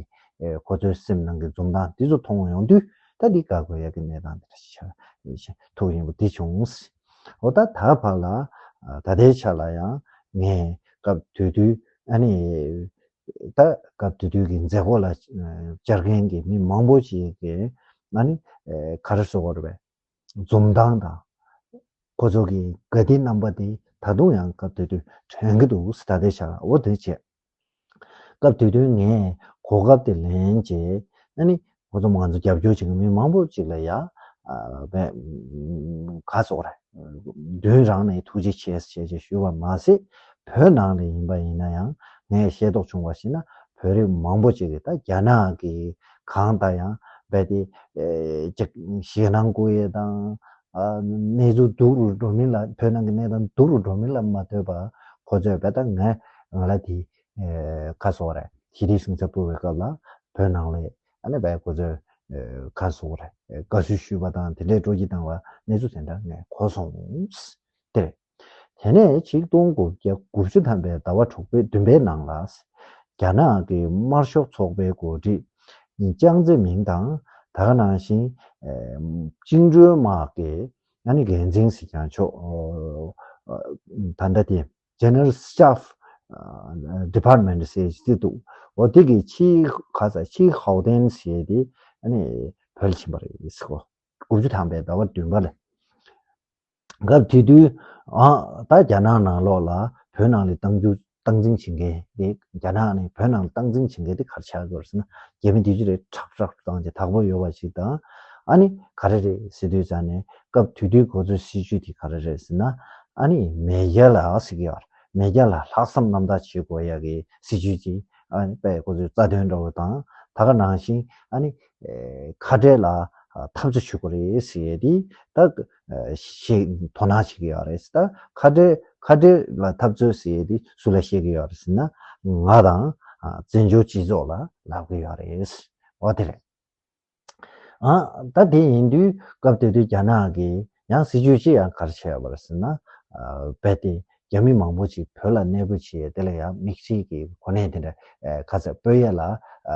ཁོ་ཚོའི་སེམས་ནང་གི་འཛུམ་མདངས་འདི་ཚོ་མཐོང་ཡོང་དུས་ད་འདི་དགའ་དགོས་ཡག་གི་གནས་སྟངས་འདི་འདྲ་ཞིག་ཆགས་ན་ཐུགས་རིང་པོ་དེ་བྱུང། འོ་ད་ད་བར་ལ་ད་ལྟའི་ཆ་ལ་ཡང་ངས་སྐབས་དུས་དུས་ཨ་ནི། ད་སྐབས་དུས་དུས་ཀྱི་མཛད་སྒོ་ལ་བཅར་མཁན་གྱི་མི་མང་པོ་ཞིག་གིས་ཨ་ནི། ག་རེ་བཟོ་བར་བས་འཛུམ་མདངས་དང། ཁོ་ཚོ་གི་དགའ་བདེའི་རྣམ་པ་དེ་ད་དུང་ཡང་སྐབས་དེ་དུས་དྲན་གྱི་འདུག་ཟླ་དེའི་ཞག་འོ་དོད་བྱས། སྐབས་དེ་དུས་ངས་གོ་སྐབས་དེ་ལེན་རྗེས། ཨ་ནི། ཁོ་ཚོ་ང་ཚོ་རྒྱབ་སྐྱོར་བྱེད་མཁན་མི་མང་པོ་ཅིག་ལ་ཡ། བའི། ག་ཚོགས་རེད། མདུན་རང་ནས་ཐུགས་རྗེ་ཆེ་ཞེས་ཞེས་ཞུས་པར་མ་ཟད། བོད་ནང་ལས་ཡིན་པ་ཡིན་ན་ཡང་ངས་ཤེས་རྟོགས་བྱུང་བར་ཞེ་ན་བོད་རིགས་མང་པོ་ཅིག་གིས་ད་རྒྱ་ནག་གི། གང་དང་ཡང་རྦད་དེ། ཞེད་སྣང་སྐུ་ཡེ་དང། གནས་ཚུལ་སྡུག་རུ་འགྲོ་མིན་ལ་བོད་ནང་གི་གནས་སྟངས་སྡུག་རུ་འགྲོ་མིན་ལ་མ་ལྟོས་པར་ཁོ་ཚོས་རྦད་དང་ངས་ང་ལ་དེ། ཁ་སོགས་རེད་ཞི་བདེའི་གཞུང་ཚབ་སྤོ་བའི་སྐབས་ལ་བོད་ནང་ལས་ཨ་ནེ་བས་ཁོ་ཚོས། ཁ་སོགས་རེད་དགའ་བསུ་ཞུས་པ་དང་དེ་འདྲས་སྤྲོ་སྐྱིད་བཏང་བ་གནས་ཚུལ་དེ་འདྲ་ངས་གོ་སོང། དེ་རེད། དེ་ནས་ཆིག་སྟོང་དགུ་བརྒྱ་དགུ་བཅུ་ཐམ་པའི་ཟླ་བ་དྲུག་པའི་བདུན་པའི་ནང་ལ། རྒྱ་ནག་གི་དམར་ཤོག་ཚོགས་པའི་འགོ་ཁྲིད་ཅང་ཙེ་མིང་དང་ད་ག་ནང་བཞིན་བཅིངས་འགྲོལ་དམག་གི་འགན་འཛིན་གཟིགས་སྐྱོང་མཆོག་ད་ལྟ་དེ General Staff Department ཟེར་གྱི་འདུག་འོ་དེ་གི་ཆི་གྷ་ས་ཆི་ཧའོ་ཏན་ཟེར་དེ་བོད་ལ་ཕྱིན་པ་རེད། དགུ་བཅུ་ཐམ་པའི་ཟླ་བ་བདུན་པ་ལ། སྐབས་དེ་དུས། ད་རྒྱ་ནག་ནང་ལོགས་ལ་བོད་ནང་ལས་བཏང་རྒྱུ་བཏང་འཛིན་བྱེད་མཁན་དེ་རྒྱ་ནག་ནས་བོད་ནང་ལ་བཏང་འཛིན་བྱེད་མཁན་དེ་གར་ཆགས་དགོས་རེད་ཟེར་ན་རྒྱ་མི་དེ་ཅི་རེད་ཁྲག་ཁྲག་ཏུ་བཏང་ཅིག་དྭགས་པོ་ཡོད་པ་ཞིག་དང། ཨ་ནི་ག་རེ་རེད་ཟེར་དུས་ཙང་ནས་སྐབས་དུས་དུས་གོ་ཚོད་སྲིད་ཇུས་དེ་ག་རེ་རེད་ཟེར་ན། ཨ་ནི་མེས་རྒྱལ་ལ་ཨ་སི་གི་ཨར་མེས་རྒྱལ་ལ་ལྷག་བསམ་རྣམ་དག་བྱེད་དགོས་ཡ་གི་སྲིད་ཇུས་དེ་ཨ་ནི་པས་གོ་ཚོད་རྩ་དོན་འདྲ་བོ་དང་ད་ག་ནང་བཞིན་ཨ་ནི་ཁ་བྲལ་ལ་འཐབ་རྩོད་བྱེད་དགོས་རེད་ཟེར་ཡས་དེ་ད། ཞེས་དོ་སྣང་བྱེད་ཀྱི་ཡོད་རེད། ད་ཁ་བྲལ་ཁ་བྲལ་ལ་འཐབ་རྩོད་ཟེར་ཡས་དེ་སུ་ལ་བཤད་ཀྱི་ཡོད་རེད་ཟེར་ན། ང་དང་བཙན་བྱོལ་སྤྱི་ཚོགས་ལ་ལབ་ཀྱི་ཡོད་རེད། འོ་དེ་རེད། ད་དེ་ཡིན་དུས་སྐབས་དེ་དུས་རྒྱ་ནག་གིས་ཡང་སྲིད་ཇུས་ཅི་ཡང་གར་བྱས་ཡོད་པ་རེད་ཟེར་ན། རྦད་དེ་རྒྱ་མི་མང་པོ་ཅིག་བོད་ལ་གནས་སྤོས་བྱས་ཡས་དེ་ལ་ཡང་མིག་འཕྲིལ་གྱི་གོ་གནས་དེ་འདྲ་ཁ་ཚ་དཔོད་ཡས་ལ་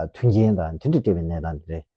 མཐུན་རྐྱེན་དང་མཐུན་སྒྲིལ་སྤྲད་པའི་གནས་སྟངས་དེ་རེད།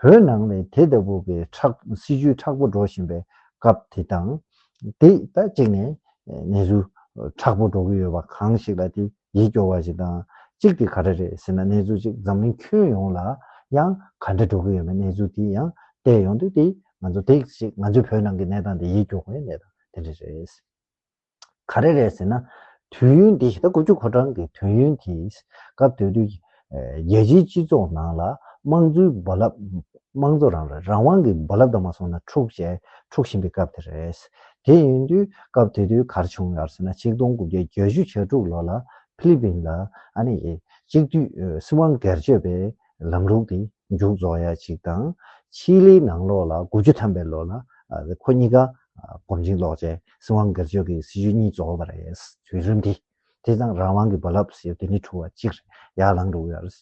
བོད་ནང་ནས་དེ་ལྟ་བུ་པའི་སྲིད་བྱུས་དྲག་པོ་འགྲོ་བཞིན་པའི་སྐབས་དེ་དང། དེ་ད་གཅིག་ནས་གནས་ཚུལ་དྲག་པོ་འགྲོ་གི་ཡོད་པ་གང་ཞིག་ལ་དེ་ཡིད་སྐྱོ་བ་ཞིག་དང་གཅིག་དེ་ག་རེ་རེད་ཟེར་ན་གནས་ཚུལ་གཅིག་འཛམ་གླིང་ཁྱོན་ཡོངས་ལ་ཡང་ག་འདྲ་འགྲོ་གི་ཡོད་པའི་གནས་ཚུལ་དེ་ཡང་བལྟས་ཡོང་དུས་དེ་ང་ཚོ་དེ་གཅིག་ང་ཚོའི་བོད་ནང་གི་གནས་སྟངས་དེ་ཡིད་སྐྱོ་བའི་གནས་སྟངས་དེ་འདྲ་རེད། ག་རེ་རེད་ཟེར་ན། དུས་ཡུན་འདི་ད་དགུ་བཅུ་གོ་གྲངས་ཀྱི་དུས་ཡུན་དེ་སྐབས་དེ་དུས་རྒྱལ་སྤྱིའི་སྤྱི་ཚོགས་ནང་ལ་དམངས་གཙོའི་རྦ་རླབས། དམངས་གཙོ་རང་རེད་རང་དབང་གི་རྦ་རླབས་དང་མ་སོང་ན་འཁྲུག་ཅེས་འཁྲུག་བཞིན་པའི་སྐབས་དེ་རེད། དེ་ཡིན་དུས་སྐབས་དེ་དུས་ག་རེ་བྱུང་ཡོད་ཟེར་ན་ཆིག་སྟོང་དགུ་བརྒྱ་གྱ་བཞི་གྱ་དྲུག་ལོ་ལ་ཕི་ལི་པིན་ལ། གཅིག་དུས་སྲིད་དབང་སྒེར་གཅོད་པས་ལམ་ལུགས་དེ་མཇུག་རྫོགས་ཡ་གཅིག་དང་ཕྱིས་ལིའི་ནང་ལོགས་ལ་དགུ་བཅུ་ཐམ་པའི་ལོ་ལ་ཁོ་གཉིས་ཀ་གོམ་ཆིངས་ལོག་ཅན་སྲིད་དབང་སྒེར་གཅོད་ཀྱི་སྲིད་བྱུས་གཉིས་རྫོགས་པ་རེད། དུས་རིམ་དེ་དེ་དང་རང་དབང་གི་རྦ་རླབས་ཟེར་དུས་ནི་ཁྲུ་བ་གཅིག་རེ་ཡར་ལངས་འགྲོ་གི་ཡོད་རེད།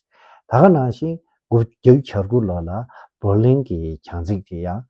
ད་ག་ནང་བཞིན་དགུ་བརྒྱ་བརྒྱུད་བྱར་དགུ་ལོ་ལ་བོར་ལིང་གི་གྱང་ཚིགས་དེ་ཡང་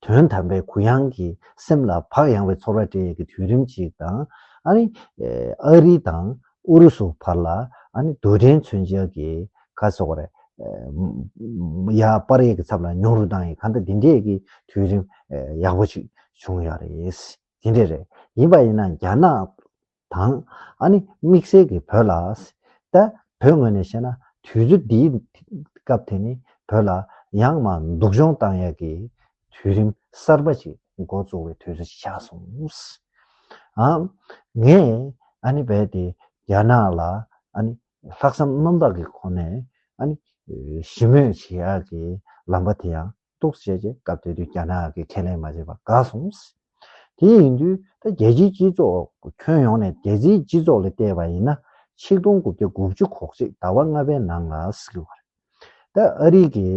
དོན་དམ་པའི་གུ་ཡངས་ཀྱི་སེམས་ལ་བག་ཡངས་བའི་ཚོར་བ་སྤྲད་ཡོད་ཀྱི་དུས་རིམ་ཅིག་དང། ཨ་རི། ཨ་རི་དང་ཨུ་རུ་སུ་བར་ལ་རྡུལ་ཕྲན་མཚོན་བྱེད་ཀྱི་ཁ་གསོ་བར། ཡ་པར་ཡིག་གི་ཚབ་ལ་མྱོང་རུ་བཏང་ཡིན་ག་འདྲ་དེ་འདྲའི་ཀྱི་དུས་རིམ་ཡག་པོ་ཅིག་བྱུང་ཡོད་རེད། དེ་འདྲ་རེད། ཡིན་པ་ཡིན་ན་རྒྱ་ནག་དང། ཨ་ནི་དམིགས་བསལ་གྱི་བོད་ལ། ད། བོད་ངོས་ནས་བཤད་ན་དུས་ཚོད་འདིའི། སྐབས་དེ་ནི་བོད་ལ། ཡང་མ་འདུག་གཞུང་བཏང་ཡག་གི། དུས་རིམ་གསར་པ་ཞིག་མགོ་བཙུགས་བའི་དུས་ཚོད་ཅིག་ཆགས་སོང། ཨ། ངས། ཨ་ནི་རྦད་དེ། རྒྱ་ནག་ལ། ཨ་ནི། ལྷག་བསམ་རྣམ་དག་གི་སྒོ་ནས། ཨ་ནི། ཞི་མོལ་བྱེད་ཡག་གི། ལམ་པ་དེ་ཡང། གཏུགས་བྱས་རྗེས་སྐབས་དེ་དུས་རྒྱ་ནག་གིས་ཁས་ལེན་མ་བྱས་པ་དགའ་སོང། དེ་ཡིན་དུས་ད་རྒྱལ་སྤྱིའི་སྤྱི་ཚོགས་ཁྱོན་ཡོངས་ནས་རྒྱལ་སྤྱིའི་སྤྱི་ཚོགས་ལ་བལྟས་པ་ཡིན་ན་ཆིག་སྟོང་དགུ་བརྒྱ་དགུ་བཅུ་གོ་གཅིག་ཟླ་བ་ལྔ་པའི་ནང་ལ་སྲིད་བར་ད་ཨ་རིག་གི་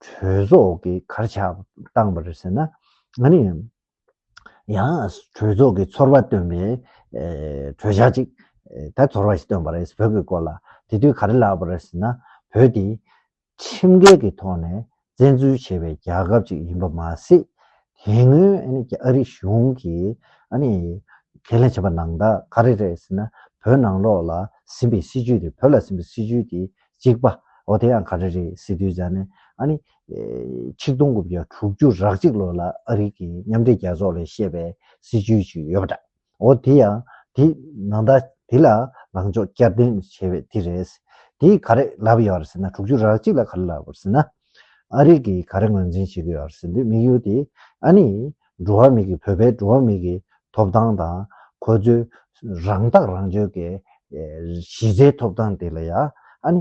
གྲོས་ཚོགས་ཀྱི་གར་ཆག་བཏང་པ་རེད་ཟེར་ན་ང་ནི་ཡང་གྲོས་ཚོགས་ཀྱི་ཚོར་བ་སྟོན་པའི་གྲོས་འཆར་ཅིག་ད་ཚོར་བ་ཞིག་སྟོན་པ་རེད་བོད་ཀྱི་སྐོར་ལ་དེ་དུས་ག་རེ་ལབ་པ་རེད་ཟེར་ན་བོད་དེ་ཁྲིམས་འགལ་གྱི་ཐོག་ནས་བཙན་འཛུལ་བྱས་པའི་རྒྱལ་ཁབ་ཅིག་ཡིན་པ་མ་ཟད། དེ་སྔོན་ཨ་རི་གཞུང་གིས་ཁས་ལེན་བྱས་པ་ནང་དག་ག་རེ་རེད་ཟེར་ན་བོད་ནང་ལོགས་ལ་ཟིན་པའི་སྲིད་བྱུས་དེ་བོད་ལ་ཟིན་པའི་སྲིད་བྱུས་དེ་གཅིག་པ་འོ་དེ་ཡང་ག་རེ་རེད་ཟེར་དུས་ཟ་ནས་ཆིག་སྟོང་དགུ་བརྒྱ་དྲུག་ཅུ་རག་གཅིག་ལོར་ལ་ཨ་རི་གི་མཉམ་འབྲེལ་རྒྱལ་ཚོགས་ལས་བཤད་པའི་སྲིད་བྱུས་ཤིག་ཡོད་པ་འདྲ། འོ་དེ་ཡང་དེ་ནང་ད་དེ་ལ་ལངས་ཕྱོགས་བསྐྱར་ལྡན་བྱས་པའི་དེ་རེད། དེ་ག་རེ་ལབ་ཡོད་རེད་ཟེར་ན་དྲུག་ཅུ་རག་གཅིག་ལ་ག་རེ་ལབ་ཡོད་ཟེར་ན། ཨ་རིག་གིས་ག་རེ་ངོས་འཛིན་བྱེད་ཀྱི་ཡོད་རེད་ཟེར་དུས་དམིགས་ཡུལ་དེ་ཨ་ནི་འགྲོ་བ་མི་གི་བོད་པའི་འགྲོ་བ་མི་གི་ཐོབ་ཐང་དང་ཁོ་ཚོའི་རང་ཐག་རང་གཅོད་ཀྱི་གཞི་རྩའི་ཐོབ་ཐང་དེ་ལ་ཡང་ཨ་ནི་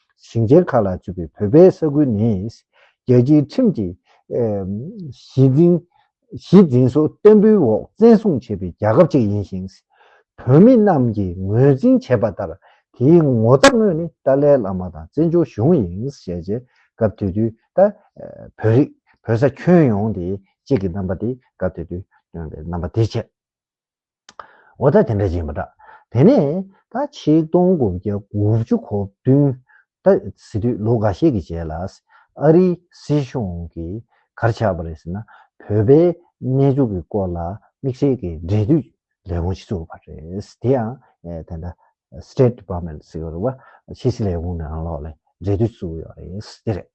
ཞིང་ཆེན་ཁག་ལ་བཅུག་པའི་བོད་པའི་ས་ཁུལ་ནི། རྒྱལ་སྤྱིའི་ཁྲིམས་ཀྱི་གཞི་འཛིན་གཞི་འཛིན་སོགས་བརྟན་པོའི་འོག་བཙན་བཟུང་བྱས་པའི་རྒྱལ་ཁབ་ཅིག་ཡིན་ཞིང། བོད་མི་རྣམས་ཀྱིས་ངོས་འཛིན་བྱས་པ་ལྟར་དེའི་ངོ་ཚབ་དངོས་ནི་ཏཱ་ལའི་བླ་མ་དང་བཙན་བྱོལ་གཞུང་ཡིན་ཞེས་རྗེས་སྐབས་དེ་དུས་ད་བོད་རིགས་བོད་ས་ཁྱོན་ཡོངས་དེ་གཅིག་གི་རྣམ་པ་དེ་སྐབས་དེ་དུས་སྟོན་པའི་རྣམ་པ་དེ་བྱས། འོ་ད་དེ་འདྲ་ཅིག་མ་གྲགས། དེ་ནས་ད་ཆིག་སྟོང་དགུ་བརྒྱ་དགུ་བཅུ་གོ་བདུན། ད་ཟི་དུས་ལོ་འགའ་ཤས་ཀྱི་རྗེས་ལ། ཨ་རིའི་སྲིད་གཞུང་གིས་གར་ཆག་པ་རེད་ཟེར་ན། བོད་པའི་གནས་འཇུག་གི་སྐོར་ལ་དམིགས་བསལ་གྱི་འབྲེལ་མཐུད་ལས་ཁུངས་ཤིག་བཙུགས་པ་རེད། དེ་ཡང་དེ་འདྲ State Department ཟེར་བ། ཕྱི་སྲིད་ལས་ཁུངས་ནང་ལོགས་ལས་འབྲེལ་མཐུད་བཙུགས་ཡོད་རེད། དེ་རེད།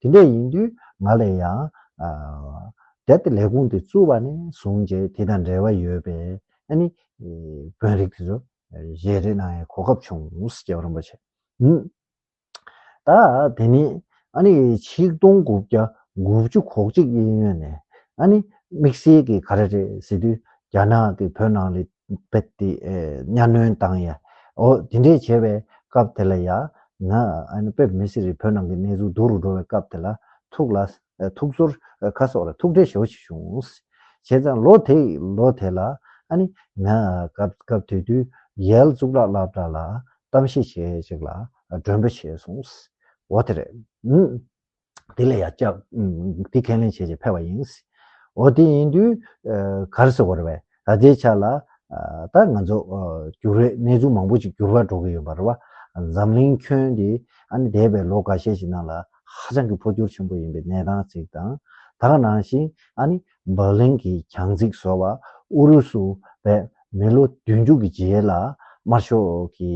དེ་འདྲ་ཡིན་དུས་ང་ལ་ཡང། དེ་ལྟར་ལས་ཁུངས་དེ་བཙུགས་པ་ནས་བཟུང་རྗེས་དེ་དང་འབྲེལ་བ་ཡོད་པའི་ཨ་ནི། དཔོན་རིགས་དེ་ཚོ་གཞས་རེ་གནང་ཡའི་གོ་སྐབས་བྱུང་རྒྱལ་བ་རིན་པོ་ཆེ། ད་དེ་ནི་ཨ་ནི་ཆིག་སྟོང་དགུ་བརྒྱ་དགུ་བཅུ་གོ་གཅིག་གཡས་གཡོན་ནས་ཨ་ནི་དམིགས་བསལ་གྱི་ག་རེ་རེད་ཟེར་དུས་རྒྱ་ནག་གི་བོད་ནང་ལས་རྦད་དེ་གཉའ་གནོན་བཏང་ཡ། འོ་དེ་འདྲས་བྱས་པའི་སྐབས་དེ་ལ་ཡ། ན་ཨན་པེབ་མི་སི་རི་བོད་ནང་གི་གནས་ཚུལ་བསྡུ་རུ་འགྲོ་བའི་སྐབས་དེ་ལ། ཐུགས་ལ། ཐུགས་ཚོར། ཁ་སོགས་ལ་ཐུགས་ཁྲལ་ཞོ་ཞིག་བྱུང། བྱས་ཙང་ལོ་དེ་ལོ་དེ་ལ། ཨ་ནི། ན་སྐབས་སྐབས་དུས་དུས། ཡལ་གཙུག་ལག་ལག་འདྲ་ལ། གཏམ་བཤད་བྱེད་ཅིག་ལ། མགྲོན་པོ་བྱས་སོང། འོ་དེ་རེད། དེ་ལ་ཡང་སྐྱབས། དེ་ཁས་ལེན་བྱེད་ཅེས་ཕེབས་པ་ཡིན། འོ་དེ་ཡིན་དུས། གར་སོ་བར་བས་ད་ལྟའི་ཆ་ལ། ད་ང་ཚོ། འགྱུར་བའི་གནས་ཚུལ་མང་པོ་ཅིག་འགྱུར་བ་འགྲོ་གི་ཡོད་པར་བ། འཛམ་གླིང་ཁྱོན་འདི་ཨ་ནི་འདས་པའི་ལོ་འགའ་ཤས་ཤིག་ནང་ལ་ཧ་ཅང་གི་འཕོ་འགྱུར་ཆེན་པོ་ཡིན་པའི་གནས་སྟངས་ཅིག་དང། དག་སྣང་ཞིང་ཨ་ནི། སྦག་ལན་གྱི་གྱང་རྩིག་བཟོ་བ་ཨུ་རུ་སུ་བས་མི་ལོ་བདུན་ཅུ་གི་རྗེས་ལ་དམར་ཤོག་གི་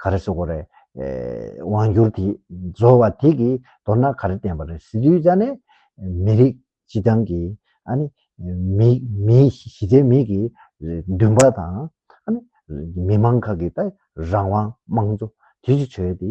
ག་རེ་སོ་གོ་རེ་དབང་བསྒྱུར་དེ་བཟོ་བ་དེ་གི་མདོར་ན་ག་རེ་བསྟན་པ་རེད་ཟེར་དུས་རྩ་ནས་མི་རིགས་སྤྱི་བཏང་གི་ཨ་ནི་མི་གཞི་རྩའི་མི་གི་འདུན་པ་དང་ཨ་ནི་མི་མང་ཁག་གི་རང་དབང་དམངས་གཙོ་དེ་ཚོ་བྱོས་ཏེ་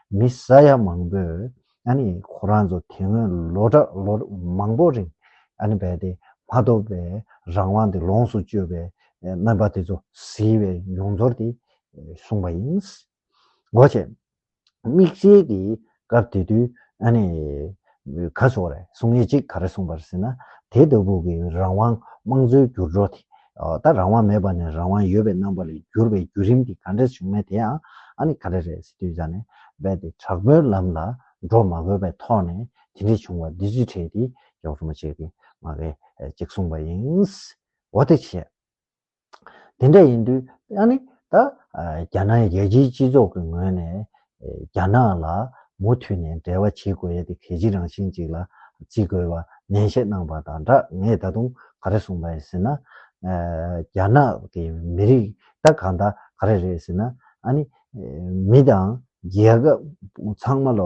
མི་ས་ཡ་མང་པོས་ཁོ་རང་ཚོ་དེ་སྔོན་ལོ་གྲངས་ལོ་མང་པོ་རིང་བས་ཏེ་མ་ཐོབ་པའི་རང་དབང་དེ་ལོངས་སུ་སྤྱོད་པའི་རྣམ་པ་དེ་ཚོ་གཟིགས་པའི་མྱོང་ཚོར་དེ་བཟུང་བ་ཡིན། སྒོ་ཕྱེ། དམིགས་བསལ་གྱིས་སྐབས་དེ་དུས་ག་སོགས་རེ་ཟུང་ཉེར་གཅིག་ག་རེ་གསུངས་པར་ཟིན་ན་དེ་ལྟ་བུ་གི་རང་དབང་དམངས་གཙོའི་འགྱུར་འགྲོ་དེ་ད་རང་དབང་མེད་པ་ནས་རང་དབང་ཡོད་པའི་རྣམ་པ་ལ་བསྒྱུར་བའི་བརྒྱུད་རིམ་དེ་ག་འདྲས་བྱུང་མེད་དེ་ཡང་ཨ་ནི་ག་རེ་རེད་ཟེར་དུས་ཇག་ནས་རྦད་དེ་དྲག་པོའི་ལམ་ལ་འགྲོ་མ་དགོས་པའི་ཐོག་ནས་དེ་འདྲས་བྱུང་བ་འདི་རྫུས་ཁྲལ་དེ་ཡོག་རུ་མ་བྱེད་ཀི་ང་རེ་གཅིག་གསུངས་པ་ཡིན། འོ་དེ་བྱས། དེ་འདྲ་ཡིན་དུས་ཡང་ནི་ད་རྒྱ་ནག་རྒྱལ་སྤྱིའི་སྤྱི་ཚོགས་ཀྱི་ངོས་ནས་རྒྱ་ནག་ལ་མུ་མཐུད་ནས་འབྲེལ་བ་བྱེད་དགོས་ཡས་དེ་གལ་ཆེ་རང་བཞིན་ཅིག་ལ་བརྩི་དགོས་པ་ནན་བཤད་གནང་པ་དང་སྦྲགས་ངས་ད་དུང་ག་རེ་གསུངས་པ་ཡིན་ཟེར་ན། རྒྱ་ནག་གི་མི་རིགས་ད་གང་ད་ག་རེ་རེད་ཟེར་ན་ཨ་ནི་མི་དང་རྒྱལ་ཁབ་ཚང་མ་ལ་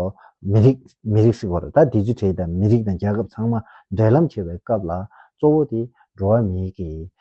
མི་རིགས་མི་རིགས་ཟེར་བ་རེད་ད Digital དང་མི་རིགས་དང་རྒྱལ་ཁབ་ཚང་མ་འབྲེལ་ལམ་བྱེད་པའི་སྐབས་ལ་གཙོ་བོ་དེ་འགྲོ་བ་མིའི་གི་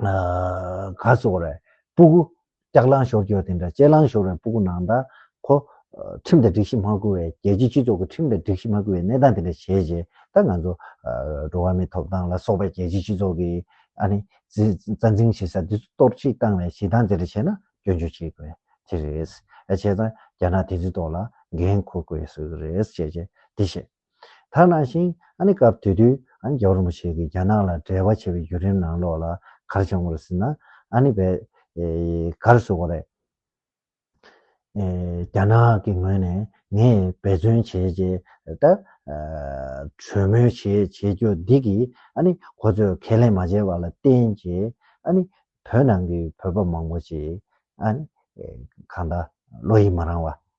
ག་སོགས་རེད། སྤུ་གུ། ལྕགས་གླང་ཞོར་སྐྱོར་དེ་འདྲ་ལྕེ་གླང་ཞོར་བའི་སྤུ་གུ་ནང་དང་གོ། ཁྲིམས་དང་སྒྲིག་གཞི་མ་བཀུར་བའི་རྒྱལ་སྤྱིའི་སྤྱི་ཚོགས་ཀྱི་ཁྲིམས་དང་སྒྲིག་གཞི་མ་བཀུར་བའི་གནས་སྟངས་དེ་འདྲ་བྱས་རྗེས་ད་ང་ཚོ། འགྲོ་བ་མིའི་ཐོབ་ཐང་ལ་སོགས་པའི་རྒྱལ་སྤྱིའི་སྤྱི་ཚོགས་ཀྱི། ཨ་ནི། རྩ་འཛིན་བྱེད་ས་འདི་ཚོ་གཏོར་བཤིག་བཏང་བའི་བྱེད་སྟངས་དེ་འདྲ་བྱས་ན་སྐྱོན་བརྗོད་བྱེད་དགོས་དེ་རེད། བྱས་ཙང་རྒྱ་ནག་དེ་ཚོའི་ཐོག་ལ་འགན་འཁུར་དགོས་ཟེར་གི་རེད་ཅེས་དེ་བཤད། ད་ནང་བཞིན་ཨ་ནི་སྐབས་དེ་དུས་ཨ་ནི་རྒྱ་རོ་མོ་ཆེ་གིས་རྒྱ་ནག་ལ་འབྲེལ་བ་བྱེད་པའི་བརྒྱུད་རིམ་ནང་ལོགས་ལ་གར་བྱུང་བར་ཟིན་ན་ཨ་ནི་བས། གར་བཟོ་བ་རེད། རྒྱ་ནག་གི་ངོས་ནས་ངས་འབད་བརྩོན་བྱས་རྗེས་ད། གྲོས་མོལ་བྱེད་བྱེད་རྒྱུ་འདི་གིས་ཨ་ནི་ཁོ་ཚོས་ཁས་ལེན་མ་བྱས་པ་ལ་བརྟེན་རྗེས་ཨ་ནི་བོད་ནང་གི་བོད་པ་མང་པོ་ཞིག་ཨ་ནི་གང་ལྟར་བློ་ཡིད་མ་རང་བ་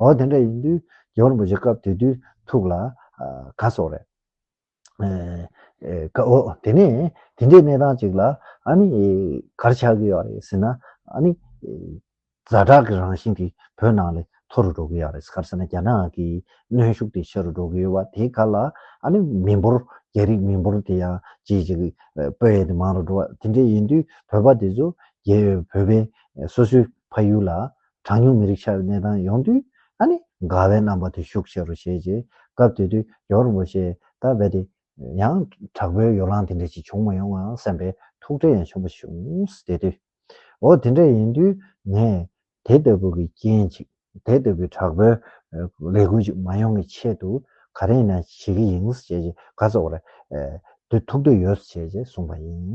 འོ་དེ་འདྲ་ཡིན་དུས་རྒྱལ་པོར་འབོད་བྱེད་སྐབས་དེ་དུས་ཐུགས་ལ་དགའ་སོགས་རེད། འོ་དེ་ནས་དེ་འདྲའི་གནས་སྟངས་ཅིག་ལ་ཨ་ནི་གར་ཆགས་ཀྱི་ཡོད་རེད་ཟེར་ན་ཨ་ནི་ཛྭ་དྲག་གི་རང་བཞིན་དེ་བོད་ནང་ལས་མཐོ་རུ་འགྲོ་གི་ཡོད་རེད་གར་ཟེར་ན་རྒྱ་ནག་གི་གནོན་ཤུགས་དེ་ཆེ་རུ་འགྲོ་གི་ཡོད་བ་དེ་ག་ལ་ཨ་ནི་མི་འབོར་རྒྱ་རིགས་མི་འབོར་དེ་ཡང་ཇེ་ཇེ་སྤོས་ཡས་དེ་མང་རུ་འགྲོ་བ་དེ་འདྲས་ཡིན་དུས་བོད་པ་དེ་ཚོ་རྒྱལ་བོད་པའི་སོ་སོའི་ཕ་ཡུལ་ལ་གྲངས་ཉུང་མི་རིགས་ཆགས་པའི་གནས་སྟངས་ཡོང་དུས་ཨ་ནི་དགའ་བའི་རྣམ་པ་དེ་ཤུགས་ཆེ་རུ་བྱས་རྗེས་སྐབས་དེ་དུས་ཡོར་མོ་ཤེ་ད་བྷེ་དེ་ཡང་དྲག་པོའི་ཡོ་ལང་དེ་འདྲ་ཞིག་བྱུང་མ་ཡོང་ངམ་བསམ་པའི་ཐུགས་ཁྲལ་ཡང་ཆེན་པོ་བྱུང། དེ་དུས་འོ་དེ་འདྲ་ཡིན་དུས་ངས་དེ་ལྟ་བུ་གི་རྐྱེན་ཅིག་དེ་ལྟ་བུའི་དྲག་པོའི་ལས་འགུལ་ཅིག་མ་ཡོང་གི་ཆེད་དུ་ག་རེ་ཡིན་ན་བྱེད་ཀྱི་ཡིན་བྱས་རྗེས་ག་ཚོད་ཀ་རེ་དུས་ཐུགས་འདོད་ཡོད་བྱས་རྗེས་གསུངས་པ་ཡིན།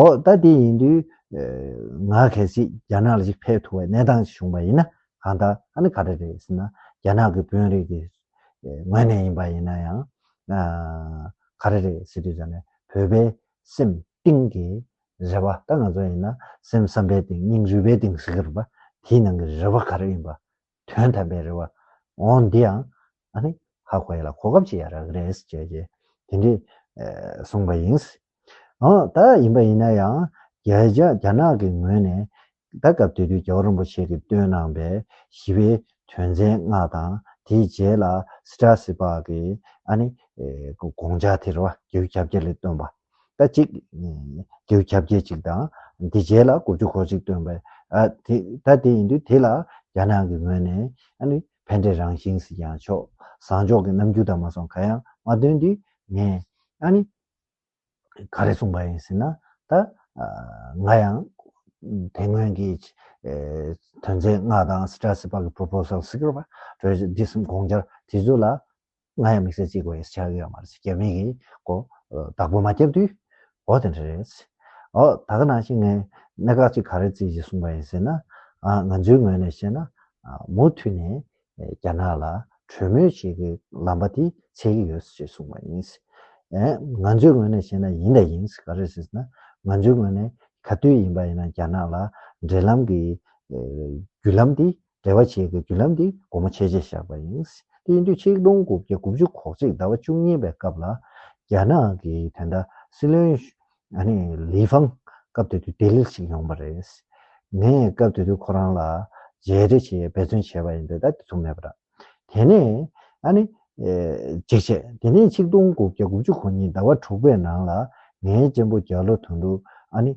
ཨོ། ད་དེ་ཡིན་དུས། ང་གལ་སྲིད་རྒྱ་ནག་ལ་ཞིག་ཕེབས་ཐུབ་པའི་གནས་སྟངས་ཤིག་བྱུང་བ་ཡིན་ན་གང་ལྟར་ཨ་ནི་ག་འདྲ་རེད་ཟེར་ན། རྒྱ་ནག་གི་དཔོན་རིགས་དེ། ངོས་ནས་ཡིན་པ་ཡིན་ན་ཡང། ག་རེ་རེད་ཟེར་དུས་ད་ནི་བོད་པའི་སེམས་གཏིང་གི་རེ་བ་ད་ང་ཚོ་ཡིན་ན་སེམས་བསམ་པའི་གཏིང་སྙིང་རུས་པའི་གཏིང་ཟེར་གི་རུང་པ་དེའི་ནང་གི་རེ་བ་ག་རེ་ཡིན་པ་དོན་དམ་པའི་རེ་བ་འོང་འདི་ཡང་ཨ་ནི་ཧ་གོ་ཡ་ལ་གོ་སྐབས་ཅིག་ཡ་རག་རེད་ཅེས་ཀྱི་དེ་འདྲིས་གསུངས་པ་ཡིན། འོ་ད་ཡིན་པ་ཡིན་ན་ཡང་རྒྱ་ནག་གི་ངོས་ནས་ད་སྐབས་དེ་དུས་རྒྱལ་བ་རིན་པོ་ཆེ་གིས་བཏོན་གནང་པའི་ཞི་བའི་དོན་ཚན་ལྔ་དང་དེའི་རྗེས་ལ་སི་ཏྲ་སི་པག་གིས་ཨ་ནི་དགོངས་འཇགས་དེ་རེ་བ་རྒྱལ་བུ་ཁྱབ་རྒྱ་ལས་བཏོན་པ། ལྟ་ཅིག། རྒྱའུ་ཁྱབ་བརྒྱད་ཅིག་དང་དེ་བརྒྱད་ལ་དགུ་བཅུ་གོ་ཅིག་སྟོན་པས། ད་དེ་ཡིན་དུས་དེ་ལ་རྒྱ་ནག་གི་ངོས་ནས་ཕན་འབྲས་རང་བཞིན་ཟིག་ཀྱང་ཆོག་བཟང་ཕྱོགས་ཀྱི་རྣམ་འགྱུར་དག་མ་སོང་ག་ཡང་མ་སྟོན་དུས་ངས། ག་རེ་གསུངས་པ་ཡིན་ཟེར་ན། ད་ང་ཡང་དེ་སྔོན་གྱི་དོན་ཚན་ལྔ་དང་སི་ཏྲ་སི་པག་གི Proposal Secret Project འདི་གསུམ་དགོངས་འཆར་དེ་ཚོ་ལ། ང་ཡང་དམིགས་བསལ་གཅིག་གོ་ཨེ་ཤེས་ཆགས་ཡོད་མ་རེད་ཟེར་རྒྱ་མི་གིས་གོ། བདག་པོ་མ་བསྐྱབས་དུས། འོ་དེ་འདྲ་རེད། འོ་ད་ག་ནང་བཞིན་ངས་གནད་འགག་གཅིག་ག་རེ་བརྩིས་ཞེས་གསུངས་པ་ཡིན་ཟེར་ན། ང་ཚོའི་ངོས་ནས་བཤད་ན། མུ་མཐུད་ནས་རྒྱ་ནག་ལ་གྲོས་མོལ་བྱེད་རྒྱུའི་ལམ་པ་དེ་ཆད་ཀྱི་ཡོད་ཞེས་གསུངས་པ་ཡིན། ང་ཚོའི་ངོས་ནས་བཤད་ན་ཡིན་དང་ཡིན་ག་རེ་ཟེར་ན། ང་ཚོའི་ངོས་ནས་ག་དུས་ཡིན་པ་ཡིན་ན་རྒྱ་ནག་ལ་འབྲེལ་ལམ་གྱི་བརྒྱུད་ལམ་དེ་འབྲེལ་བ་བྱེད་པའི་བརྒྱུད་ལམ་འདི་སྒོ་མོ་ཕྱེས་རྗེས་བཞག་པ་ཡིན། དེ་ཡིན་དུས་ཆིག་སྟོང་དགུ་བརྒྱ་དགུ་བཅུ་གོ་གཅིག་ཟླ་བ་བཅུ་གཉིས་པའི་སྐབས་ལ། རྒྱ་ནག་གི་དེ་འདྲ་སྲིད་བློན། ལི་ཧྥང། སྐབས་དེ་དུས་ལྡི་ལིར་ཞིག་ཡོང་པ་རེད། ངས་སྐབས་དེ་དུས་ཁོ་རང་ལ་མཇལ་འཕྲད་བྱེད་ཡའི་འབད་བརྩོན་བྱས་པ་ཡིན་པས་ད་དེ་ཚོ་མེད་པ་འདྲ། དེ་ནས། རྗེས་བྱས་དེ་ནས་ཆིག་སྟོང་དགུ་བརྒྱ་དགུ་བཅུ་གོ་གཉིས་ཟླ་བ་དྲུག་པའི་ནང་ལ། ངའི་གཅེན་པོ་རྒྱ་ལོ་དོན་གྲུབ།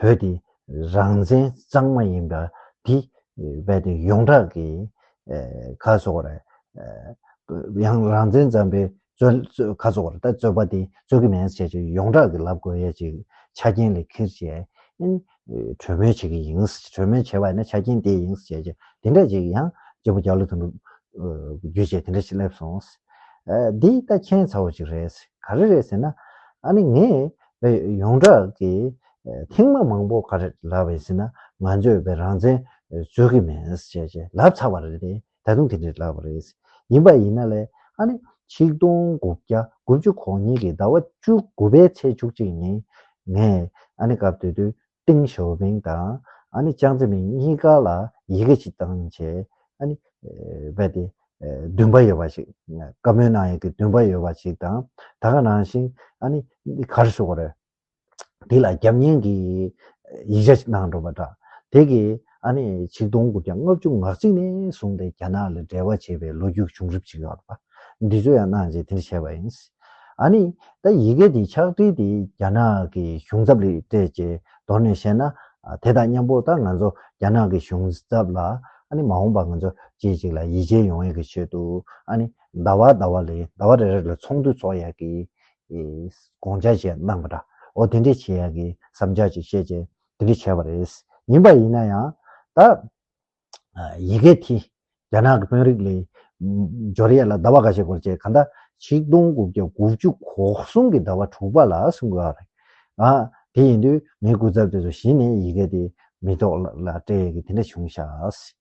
བོད་དེ་རང་བཙན་གཙང་མ་ཡིན་པ་དེ་རྦད་དེ་ཡོངས་གྲགས་ཀྱི་ཁ་ཕྱོགས་རེད། ཡང་རང་བཙན་གཙང་པའི་ཁ་ཕྱོགས་རེད་ད་རྩོད་པ་དེ་རྩོད་ཀྱི་མེད་ཟེར་བྱས་ཡོངས་གྲགས་ཀྱི་ལབ་དགོས་ཡས་ཀྱི་ཆ་རྐྱེན་ལས་ཁིར་བྱས་གྲོས་མོལ་བྱེད་ཀྱི་ཡིན། གྲོས་མོལ་བྱས་པ་ཡིན་ན་ཆ་རྐྱེན་དེ་ཡིན་ཟེར་བྱས་དེ་འདྲ་ཅིག་ཡང་སྐྱེ་བོ་རྒྱ་ལོ་དང་པོ་རྒྱུ་བྱས་དེ་འདྲ་ཞིག་སླེབས་སོང། འདི་ད་མཁྱེན་ཚ་བོ་ཅིག་རེད། ག་རེ་རེད་ཟེར་ན་ཨ་ནི་ངས་ཡོངས་གྲགས་ཀྱི་ཐེངས་མ་མང་པོ་ག་རེ་ལབ་བའི་ཟིན་ན་ང་ཚོས་བའི་རང་བཙན་རྩོད་ཀྱི་མེད་ཟེར་ཞེས་ལབ་ཚར་བ་རེད་པས་ད་དུང་དེ་འདྲས་ལབ་པ་རེད། ཡིན་པ་ཡིན་ན་ལས་ཨ་ནི་ཆིག་སྟོང་དགུ་བརྒྱ་དགུ་བཅུ་གོ་གཉིས་ཀྱི་ཟླ་བ་བཅུ་དགུ་པའི་ཚེས་བཅུ་གཅིག་ཉིན་ངས་ཨ་ནི་སྐབས་དེ་དུས་ཏིང་ཞོ་མིང་དང་ཨ་ནི་ཅང་ཙེ་མིང་གཉིས་ཀ་ལ་ཡི་གེ་གཅིག་དང་བཅས་ཨ་ནི། རྦད་དེ། བདུན་པ་ཡོད་པ་ཞིག་བཀའ་མོལ་གནང་ཡོད་ཀི་བདུན་པ་ཡོད་པ་ཞིག་དང་ད་ག་ནང་བཞིན་ཨ་ནི་འདི་གར་བཞུགས་པ་རེད། འདི་ལ་རྒྱབ་བརྙན་གྱི་ཡིག་ཆ་ཞིག་གནང་འགྲོ་པ་འདྲ་དེ་གི། ཨ་ནི་ཆིག་སྟོང་དགུ་བརྒྱ་ལྔ་བཅུ་ང་གཅིག་ནས་བཟུང་སྟེ་རྒྱ་ནག་ལ་འབྲེལ་བ་བྱེད་པའི་ལོ་རྒྱུས་བྱུང་རིམ་ཞིག་ཡོད་པ། འདི་ཚོ་ཡང་གནང་རྗེས་དེ་འདྲ་བྱས་པ་ཡིན། ཨ་ནི་ད་ཡི་གེ་འདི་ཕྱག་བྲིས་ཏེ་རྒྱ་ནག་གི་གཞུང་ཚབ་ལས་སྤྲད་ཅེས་མདོར་ནས་བཤད་ན་དེ་དང་མཉམ་པོ་ད་ང་ཚོ་རྒྱ་ནག་གི་གཞུང་ཚབ་ལ་ཨ་ནི་མ་འོངས་པ་ང་ཚོ་སྐྱེས་ཅིག་ལ་ཡིད་ཆེས་ཡོང་ཡག་གི་ཆེད་དུ་ཨ་ནི་ཟླ་བ་ཟླ་བ་ལས་ཟླ་བ་རེ་རེ་ལ་ཚོགས་འདུ་འཚོགས་ཡག་གི། དགོངས་འཆར་ཞིག་གནང་པ་འདྲ་འོ་དེ་འདྲས་བྱེད་ཡག་གི་བསམ་འཆར་ཅིག་བཤད་རྗེས་དེ་འདྲས་བྱས་པ་རེད། ཡིན་པ་ཡིན་ན་ཡང། ད། ཡི་གེ་དེ། རྒྱ་ནག་གི་དཔོན་རིགས་ལས། འབྱོར་ཡས་ལ་ཟླ་བ་འགའ་ཤས་སྐོར་བྱས་ག་འདྲ། ཆིག་སྟོང་དགུ་བརྒྱ་དགུ་བཅུ་གོ་གསུམ་གྱི་ཟླ་བ་དྲུག་པ་ལ་གསུང་དགོས་རེད། ཨ། དེ་ཡིན་དུས་ངའི་སྐུ་ཚབ་དེ་ཚོ་གཞི་ནས་ཡི་གེ་དེ་མི་ཐོག་ལ་སྤྲད་ཡས་ཀྱི་དེ་འདྲས་བྱུང་ཤགས།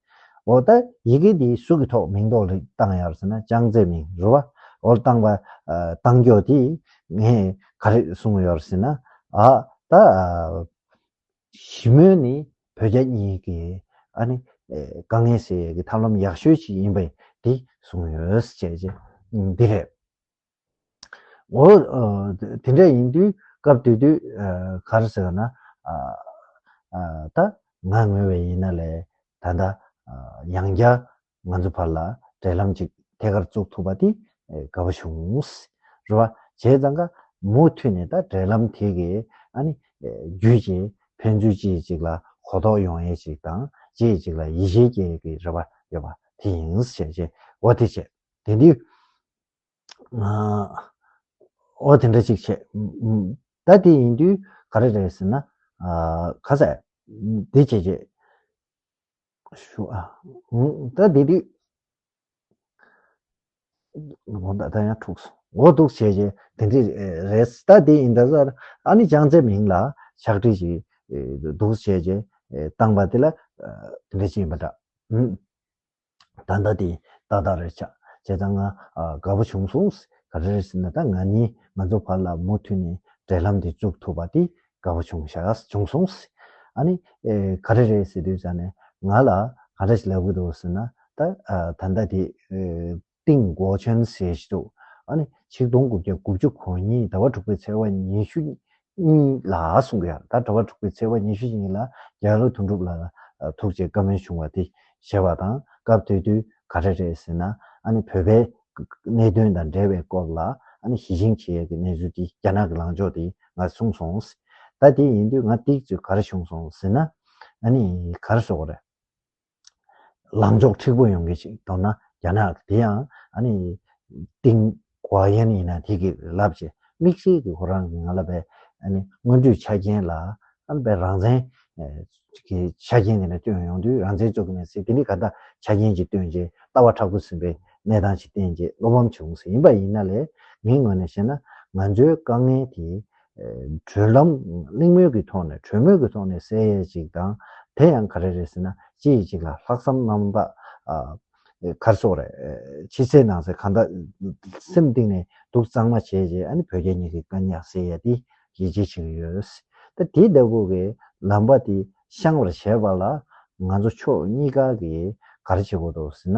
འོ་ད་ཡི་གེ་འདིའི་གཟུགས་ཀྱི་ཐོག་མིང་འདོགས་ལེགས་བཏང་ཡར་ཟེར་ན་ཅང་ཙེ་མིང་རུལ་བ་འོ་བཏང་བ་བཏང་སྐྱོ་དེ་ངས་ག་རེད་གསུངས་ཡོད་ཟེར་ན་ཨ་ད་ཞི་མོལ་ནི་བོད་རྒྱ་གཉིས་ཀྱི་ཨ་ནི་དཀའ་ངལ་སེལ་ཡས་ཀྱི་ཐབས་ལམ་ཡག་ཤོས་ཞིག་ཡིན་པས་དེ་གསུངས་ཡོད་ཟེར་བྱས་རྗེས་འདི་རེད། འོ། དེ་འདྲ་ཡིན་དུས་སྐབས་དེ་དུས་གར་ཟེར་བ་ན། ད་ང་ངོས་བས་ཡིན་ན་ལས་ད་ལྟ་ཡང་བསྐྱར་ང་ཚོ་བར་ལ་འབྲེལ་ལམ་ཅིག་ཐད་ཀར་བཙུགས་ཐུབ་པ་དེ་དགའ་བོ་བྱུང། རེད་བ། བྱས་ཙང་ཀ་མུ་མཐུད་ནས་ད་འབྲེལ་ལམ་དེ་གའི་རྒྱུད་ཀྱི་ཕན་ཚུན་གཅིག་གཅིག་ལ་གོ་རྟོགས་ཡོང་ཡས་ཅིག་དང་གཅིག་གཅིག་ལ་ཡིད་ཆེས་སྐྱེ་ཡས་ཀྱི་རེ་བ་ཡོད་པ་དེ་ཡིན། བྱས་བྱས་འོ་དེ་བྱས་དེ་དུས། ཨོ་དེ་འདྲ་ཅིག་བྱས། ད་དེ་ཡིན་དུས་ག་རེ་རེད་ཟེར་ན། ག་ས་དེ་བྱས་བྱས། ཞུ། ད་དེ་དུས། ཨོ་ད་ཡང་འཁྲུག་སོང། ཨོ་འདུག་བྱས་བྱས་དེ་འདྲ་རེད། ད་དེ་ཡིན་ད་ཟེར། ཨ་ནི་ཅང་ཙེ་མིང་ལ་ཕྱག་བྲིས་ཤིག་འདུག་བྱས་བྱས་བཏང་པ་དེ་ལ་དེ་འདྲ་ཅིག་ཡིན་པ་འདྲ། ད་ལྟ་དེ་ཏག་ཏག་རེད་ཆགས་བྱས་ཙང་ང་དགའ་པོ་བྱུང་སོང། ག་རེ་རེད་ཟེར་ན་ད་ང་ནི་ང་ཚོ་བར་ལ་མུ་མཐུད་ནས་འབྲེལ་ལམ་དེ་བཙུགས་ཐུབ་པ་དེ་དགའ་པོ་བྱུང་བྱུང་སོང། ཨ་ནི། ག་རེ་རེད་ཟེར་དུས་ད་ནི་ང་ལ་ག་འདྲ་ཞིག་ལབ་གི་འདུག་ཟེར་ན་ད་ད་ལྟ་དེ་ཏིང་གོ་ཆོན་ཟེར་གྱི་འདུག་ཨ་ནི་ཆིག་སྟོང་དགུ་བརྒྱ་དགུ་བཅུ་གོ་གཉིས་ཟླ་བ་དྲུག་པའི་ཚེས་བ་ཉི་ཤུ་གཉིས་ལ་གསུང་གི་ཡང་དག་གྲྭ་བ་དྲུག་པའི་ཚེས་པ་ཉི་ཤུ་ཉིན་ལ་རྒྱལ་ལོ་དོན་གྲུབ་ལ་ལ་ཐུགས་རྗེ་བཀའ་མོལ་བྱུང་བ་དེ་ཞེས་པ་དང་སྐབས་དེ་དུས་ག་རེ་རེད་ཟེར་ན་བོད་པའི་གནད་དོན་དང་འབྲེལ་བའི་སྐོར་ལ་ཞི་ཅིང་ཆེ་ཡག་གི་གནས་ཚུལ་དེ་རྒྱ་ནག་གི་ལངས་ཕྱོགས་དེ་ང་གསུང་སོང། ད་དེ་ཡིན་དུས་ང་སྟེགས་བརྩོད་ག་རེ་བྱུང་སོང་ཟེར་ན་གར་བཟོ་ག་རེ། ལངས་ཕྱོགས་འཁྲིག་པོ་ཡོང་གི་ཅིག་མདོར་ན་རྒྱ་ནག་དེ་ཡང་ཨ་ནི་ཏིང་གོ་ཡན་ཡིན་ན་དེ་གི་ལབ་ཅེས་དམིགས་བསལ་གི་ཁོ་རང་གི་ང་ལ་བའི་ཨ་ནི་སྔོན་འགྲོའི་ཆ་རྐྱེན་ལ་ཨ་ནི་བའི་རང་བཙན་གི་ཆ་རྐྱེན་དེ་ནི་བཏོན་ཡོང་དུས་རང་བཙན་རྩོད་ཀྱི་མེད་ཟེར་དེ་ནི་ག་འདྲ་ཆ་རྐྱེན་ཅིག་བཏོན་རྗེས་ལྟ་བ་ཕྲག་ཏུ་ཟིན་པའི་གནས་སྟངས་ཅིག་བསྟན་རྗེས་བློ་ཕམ་བྱུང་ཟེར་ཡིན་པ་ཡིན་ན་ལས་ངའི་ངོས་ནས་བཤད་ན་ང་ཚོའི་དཀའ་ངལ་དེ་གྲོས་ལམ་གླེང་མོལ་གྱི་ཐོག་ནས་གྲོས་མོལ་གྱི་ཐོག་ནས་གསལ་ཡས་ཅིག་དང་དེ་ཡང་ག་རེ་རེད་ཟེར་ན་གཅིག་གིས་གཅིག་ལ་ལྷག་བསམ་རྣམ་དག་གར་སོང་རེད་ཕྱི་གསལ་ནང་གསལ་གང་དག་སེམས་གཏིང་ནས་སྡུག་གཙང་མ་བྱས་རྗེས་ཨ་ནི་བོད་རྒྱ་གཉིས་ཀྱི་དཀའ་སྙག་སེལ་ཡས་དེ་ཡིད་ཆེས་བྱེད་ཀྱི་ཡོད་ད་དེ་ལྟ་བུ་གི་ལམ་པ་དེ་བཤང་བར་བྱས་པ་ལ་ང་ཚོ་ཕྱོགས་གཉིས་ཀ་གིས་ག་རེ་བྱེད་དགོས་འདུག་ཟེར་ན་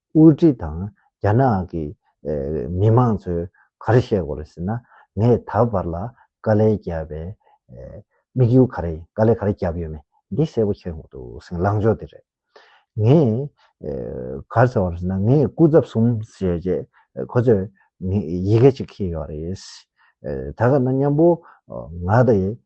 དབུས་ཁྲི་དང་རྒྱ་ནག་གི་མི་མང་ཚོས་ག་རེ་བཤད་གོ་རེ་ཟེར་ན། ངས་ད་བར་ལ་དཀའ་ལས་བརྒྱབ་པའི་དམིགས་ཡུལ་ག་རེ་ཡིན་དཀའ་ལས་ག་རེ་བརྒྱབ་ཡོད་མེད་འདི་གསལ་པོ་ཤེས་འོང་འདུག་སེང་ལང་ཕྱོགས་འདི་རེད། ངས་ག་རེ་བྱས་པ་རེད་ཟེར་ན་ངས་སྐུ་ཚབ་གསུམ་བྱས་རྗེས་ཁོ་ཚོས་ཡི་གེ་གཅིག་ཁེལ་ཡོད་རེད། ད་ག་ན་མཉམ་པོ་ང་དང་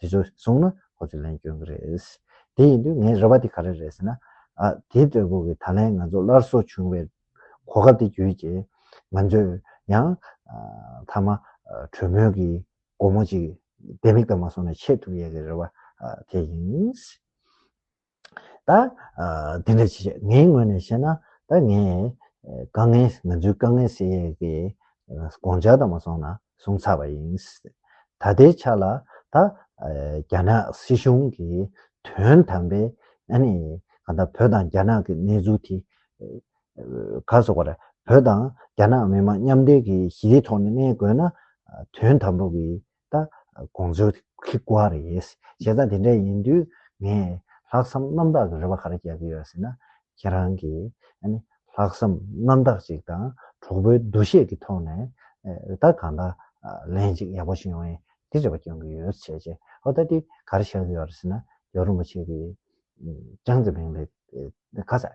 དེ་ཚོ་གསུངས་ན་ཁོ་ཚོས་ལན་བསྐྱོན་གི་རེད། དེ་ཡིན་དུས་ངའི་རེ་བ་དེ་ག་རེ་རེད་ཟེར་ན། ཨ། དེ་ལྟ་བུ་གི་ད་ལན་ང་ཚོ་སླར་གསོ་བྱུང་བའི་གོ་སྐབས་དེ་བརྒྱུད་ཀྱི། ང་ཚོས་ཡང། མཐའ་མ། གྲོས་མོལ་གྱི་སྒོ་མོ་ཅིག་ལྡེ་མིག་ལྟར་མ་སོང་ནས་ཕྱེ་ཐུབ་ཡས་ཀྱི་རེ་བ་དེ་ཡིན། ད། དེ་འདྲ་བྱས། ངའི་ངོས་ནས་བཤད་ན། ད་ངས། དཀའ་ངལ་ང་ཚོའི་དཀའ་ངལ་སེལ་ཡས་ཀྱི། དགོངས་འཆར་དང་མ་སོང་ན་སོང་ཚར་བ་ཡིན། ད་ལྟའི་ཆ་ལ། ད། རྒྱ་ནག་སྲིད་གཞུང་གི། དོན་དམ་པའི། ཨ་ནི། ང་ད་བོད་དང་རྒྱ་ནག་གི་གནས་ཚུལ་དེ། ག་སོགས་པ་རེད། བོད་དང་རྒྱ་ནག་མི་དམངས་མཉམ་འབྲེལ་གྱི་གཞིའི་ཐོག་ནས་གནས་དགོས་ན། དོན་དམ་པོ་གི། ད་དགོངས་ཚུལ་གྱི་སྐོར་རེད། བྱས་ཙང་དེ་འདྲ་ཡིན་དུས་ངས་ལྷག་བསམ་རྣམ་དག་གི་རེ་བ་ག་རེ་རྒྱག་གི་ཡོད་ཟེར་ན། ཁྱེད་རང་གིས་ལྷག་བསམ་རྣམ་དག་ཅིག་དང་གྲོགས་པོའི་འདུ་ཤེས་ཀྱི་ཐོག་ནས་རེ་ད་གང་ལྟར་ལན་ཅིག་ཡག་པོ་ཞུ་ཡོང་ཡིན་དེ་རེ་བ་སྐྱོང་གི་ཡོད་བྱས་རྗེས་ཨོ་ད་དེ་ག་རེ་བྱ་གི་ཡོད་རེད་ཟེར་ན་ཡོ་རུ་མོ་ཆེ་གིས་ཅང་ཙེ་མིང་ལས་ཁ་ཟས།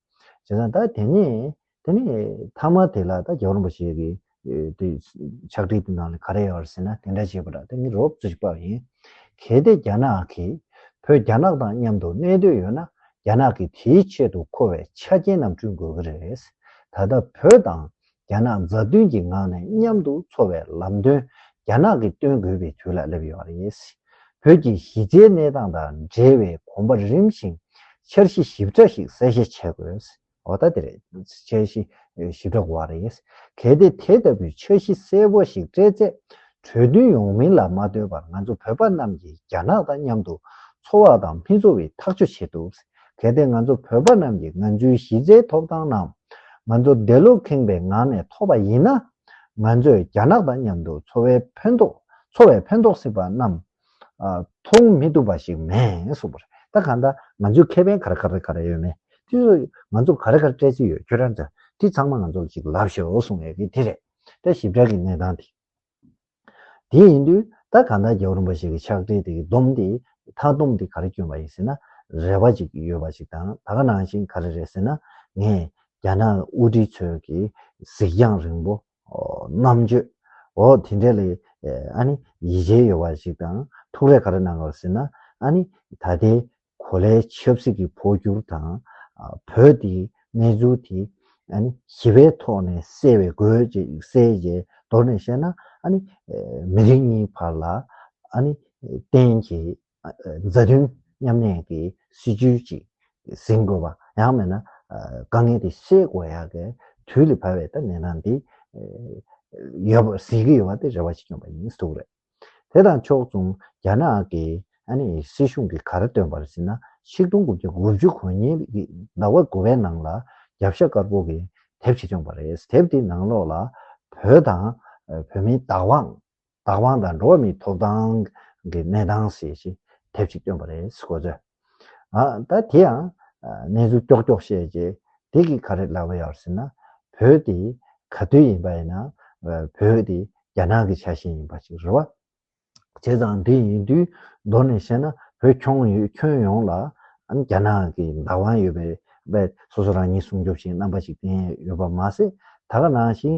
བྱས་ཙང་ད་དེ་ནས་དེ་ནས་མཐའ་མ་དེ་ལ་ད་རྒྱ་གར་བ་ཞིག་གི་དེ་ཕྱག་བྲིས་དེ་ནང་ལ་ག་རེ་ཡོད་རེད་ཟེར་ན་དེ་འདྲ་བྱས་པ་ལ་དེ་ནི་རོབ་རྩིས་པ་ཡིན། གལ་ཏེ་རྒྱ་ནག་གིས་བོད་རྒྱ་ནག་དང་མཉམ་དུ་གནས་འདོད་ཡོད་ན་རྒྱ་ནག་གིས་དེའི་ཆེད་དུ་མཁོ་བའི་ཆ་རྐྱེན་རྣམས་བསྐྲུན་དགོས་ཀྱི་རེད། ད་ལྟ་བོད་དང་རྒྱ་ནག་མཛའ་མཐུན་གྱི་ངང་ནས་མཉམ་དུ་འཚོ་བའི་ལམ་སྟོན་རྒྱ་ནག་གིས་སྟོན་དགོས་པའི་དུས་ལ་སླེབས་ཡོད་པ་རེད། བོད་ཀྱི་གཞི་རྩའི་གནས་སྟངས་དང་འབྲེལ་བའི་གོམ་པ་རིམ་བཞིན་འཆར་གཞི་ཞིབ་ཕྲ་ཞིག་གསལ་བཤད་བྱེད་དགོས། འོ་ད་དེ་རེད། འཆར་གཞི་ཞིབ་ཕྲ་དགོས་བ་རེད། གལ་ཏེ་དེ་ལྟ་བུའི་འཆར་གཞི་གསལ་བོ་ཞིག་སྤྲད་ཚེ་གྲོས་མཐུན་ཡོང་མིན་ལ་མ་ལྟོས་པར་ང་ཚོ་བོད་པ་རྣམས་ཀྱིས་རྒྱ་ནག་དང་མཉམ་དུ་འཚོ་བ་དང་མི་འཚོ་བའི་ཐག་གཅོད་བྱེད་ཐུབ། གལ་ཏེ་ང་ཚོ་བོད་པ་རྣམས་ཀྱིས་ང་ཚོའི་གཞི་རྩའི་ཐོབ་ཐང་རྣམས་ང་ཚོ་བདེ་བློ་ཁེངས་པའི་ངང་ནས་ཐོབ་པ་ཡིན་ན། ང་ཚོས་རྒྱ་ནག་དང་མཉམ་དུ་འཚོ་བའི་ཕན་ཐོགས་འཚོ་བའི་ཕན་ཐོགས་སྲིད་པ་རྣམས་མཐོང་མི་ཐུབ་པ་ཞིག་མེད་སོང་པ་རེད་ད་གང་ལྟར་ང་ཚོའི་ཁེ་ཕན་ག་རེ་ག་རེ་ག་རེ་ཡོད་མེད་དེ་ཚོ་ང་ཚོ་ག་རེ་ག་རེ་སྤྲད་རྩིས་ཡོད་ཁྱོད་རང་ཚོས་དེ་ཚང་མ་ང་ཚོར་ཅིག་ལབ་ཤོག་གསུང་ཡོད་ཀི་དེ་རེད་ད་ཞིབ་ཕྲ་གི་གནས་སྟངས་དེ། དེ་ཡིན་དུས་ད་ག་ཟླ་རྒྱ་གུར་འབའ་ཞིག་གི་ཕྱག་དྲིལ་དེ་གི་སྡོམ་དེ་མཐའ་སྡོམ་དེ་ག་རེ་བསྐྱོན་པ་ཡིན་ཟེར་ན། རེ་བ་ཅིག་ཡོད་པ་ཞིག་དང་ད་ག་ནང་བཞིན་ག་རེ་རེད་ཟེར་ན། ངས་རྒྱ་ནག་དབུ་ཁྲིད་ཚོས་གི་གཟིགས་རྒྱང་རིང་པོ། རྣམ་དཔྱོད། འོ་དེ་འདྲ་ལས་ཨ་ནི་ཡིད་ཆེས་ཡོད་པ་ཞིག་དང་ཐུགས་རེ་ག་རེ་གནང་དགོས་ཟེར་ན། ཨ་ནི་ད་ལྟའི་གོ་ལའི་ཆབ་སྲིད་ཀྱི་འཕོ་འགྱུར་དང། བོད་དེའི་གནས་ཚུལ་དེ། ཞི་བའི་ཐོག་ནས་སེལ་བའི་དགོས་ཅེས་གསལ་བྱེད་མདོར་ནས་བཤད་ན། མི་རིགས་གཉིས་བར་ལ། གཏན་གྱི་མཛའ་མཐུན་མཉམ་གནས་ཀྱི་སྲིད་བྱུས་ཅིག་ཟིན་དགོས་པ། ཡང་མེད་ན་དཀའ་ངལ་དེ་སེལ་དགོས་ཡག་གི་དུས་ལས་བབས་པའི་ཐ་སྙད་ནང་དེ་ཡོད་པ་ཟིན་གྱི་ཡོད་པ་དེ་རེ་བ་ཅིག་ཡོད་པ་ཡིན་གསུངས་རེད། དེ་དང་ཕྱོགས་མཚུངས་རྒྱ་ནག་གི་སྲིད་གཞུང་གིས་གར་བཏོན་པར་ཟིན་ན་ཆིག་སྟོང་དགུ་བརྒྱ་དགུ་བཅུ་གོ་གཉིས་ཀྱི་ཟླ་བ་དགུ་བའི་ནང་ལ་རྒྱབ་ཤ་དཀར་པོ་གི་དེབ་ཞིག་བྱུང་བ་རེད། དེབ་དེའི་ནང་ལོགས་ལ་བོད་དང་བོད་མིའི་བདག་དབང། བདག་དབང་དང་འགྲོ་བ་མིའི་ཐོབ་ཐང་གི་གནས་སྟངས་ཞེས་དེབ་ཞིག་བཏོན་པ་རེད། གོ་ཚོད། ད་དེ་ཡང་གནས་ཚུལ་ཀྱོག་ཀྱོག་བཤད་རྗེས་དེ་གིས་ག་རེ་ལབ་པ་ཡོད་ཟེར་ན། བོད་དེ་ག་དུས་ཡིན་པ་ཡིན་ན་བོད་དེ་རྒྱ་ནག་གི་ཆ་ཤས་ཡིན་པ་ཞིག་རེད་བ། བྱས་ཙང་དེ་ཡིན་དུས་མདོར་ནས་བཤད་ན་བོད་ཁྱོན་ཡོངས་ལ་རྒྱ་ནག་གི་བདག་དབང་ཡོད་པས་སོ་སོ་རང་ཉིད་སྲུང་སྐྱོབ་བྱེད་རྣམ་པ་ཞིག་བསྟན་ཡོད་པ་མ་ཟད་ད་ག་ནང་བཞིན་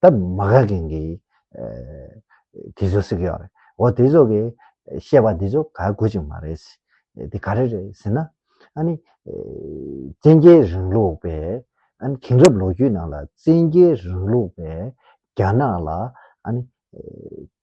ད་མ་ག་གིང་གིས་དེ་ཚོ་སི་གི་ཡོག་རེད། འོ་དེ་ཚོ་གིས་བཤད་པ་དེ་ཚོ་ག་དགོས་ཅིག་མ་རེད། དེ་ག་རེ་རེད་ཟེར་ན། ཨ་ནི། བཙན་རྒྱལ་རིང་ལུགས་པས་ཨ་ནི་དེང་རབས་ལོ་རྒྱུས་ནང་ལ་བཙན་རྒྱལ་རིང་ལུགས་པས་རྒྱ་ནག་ལ་ཨ་ནི།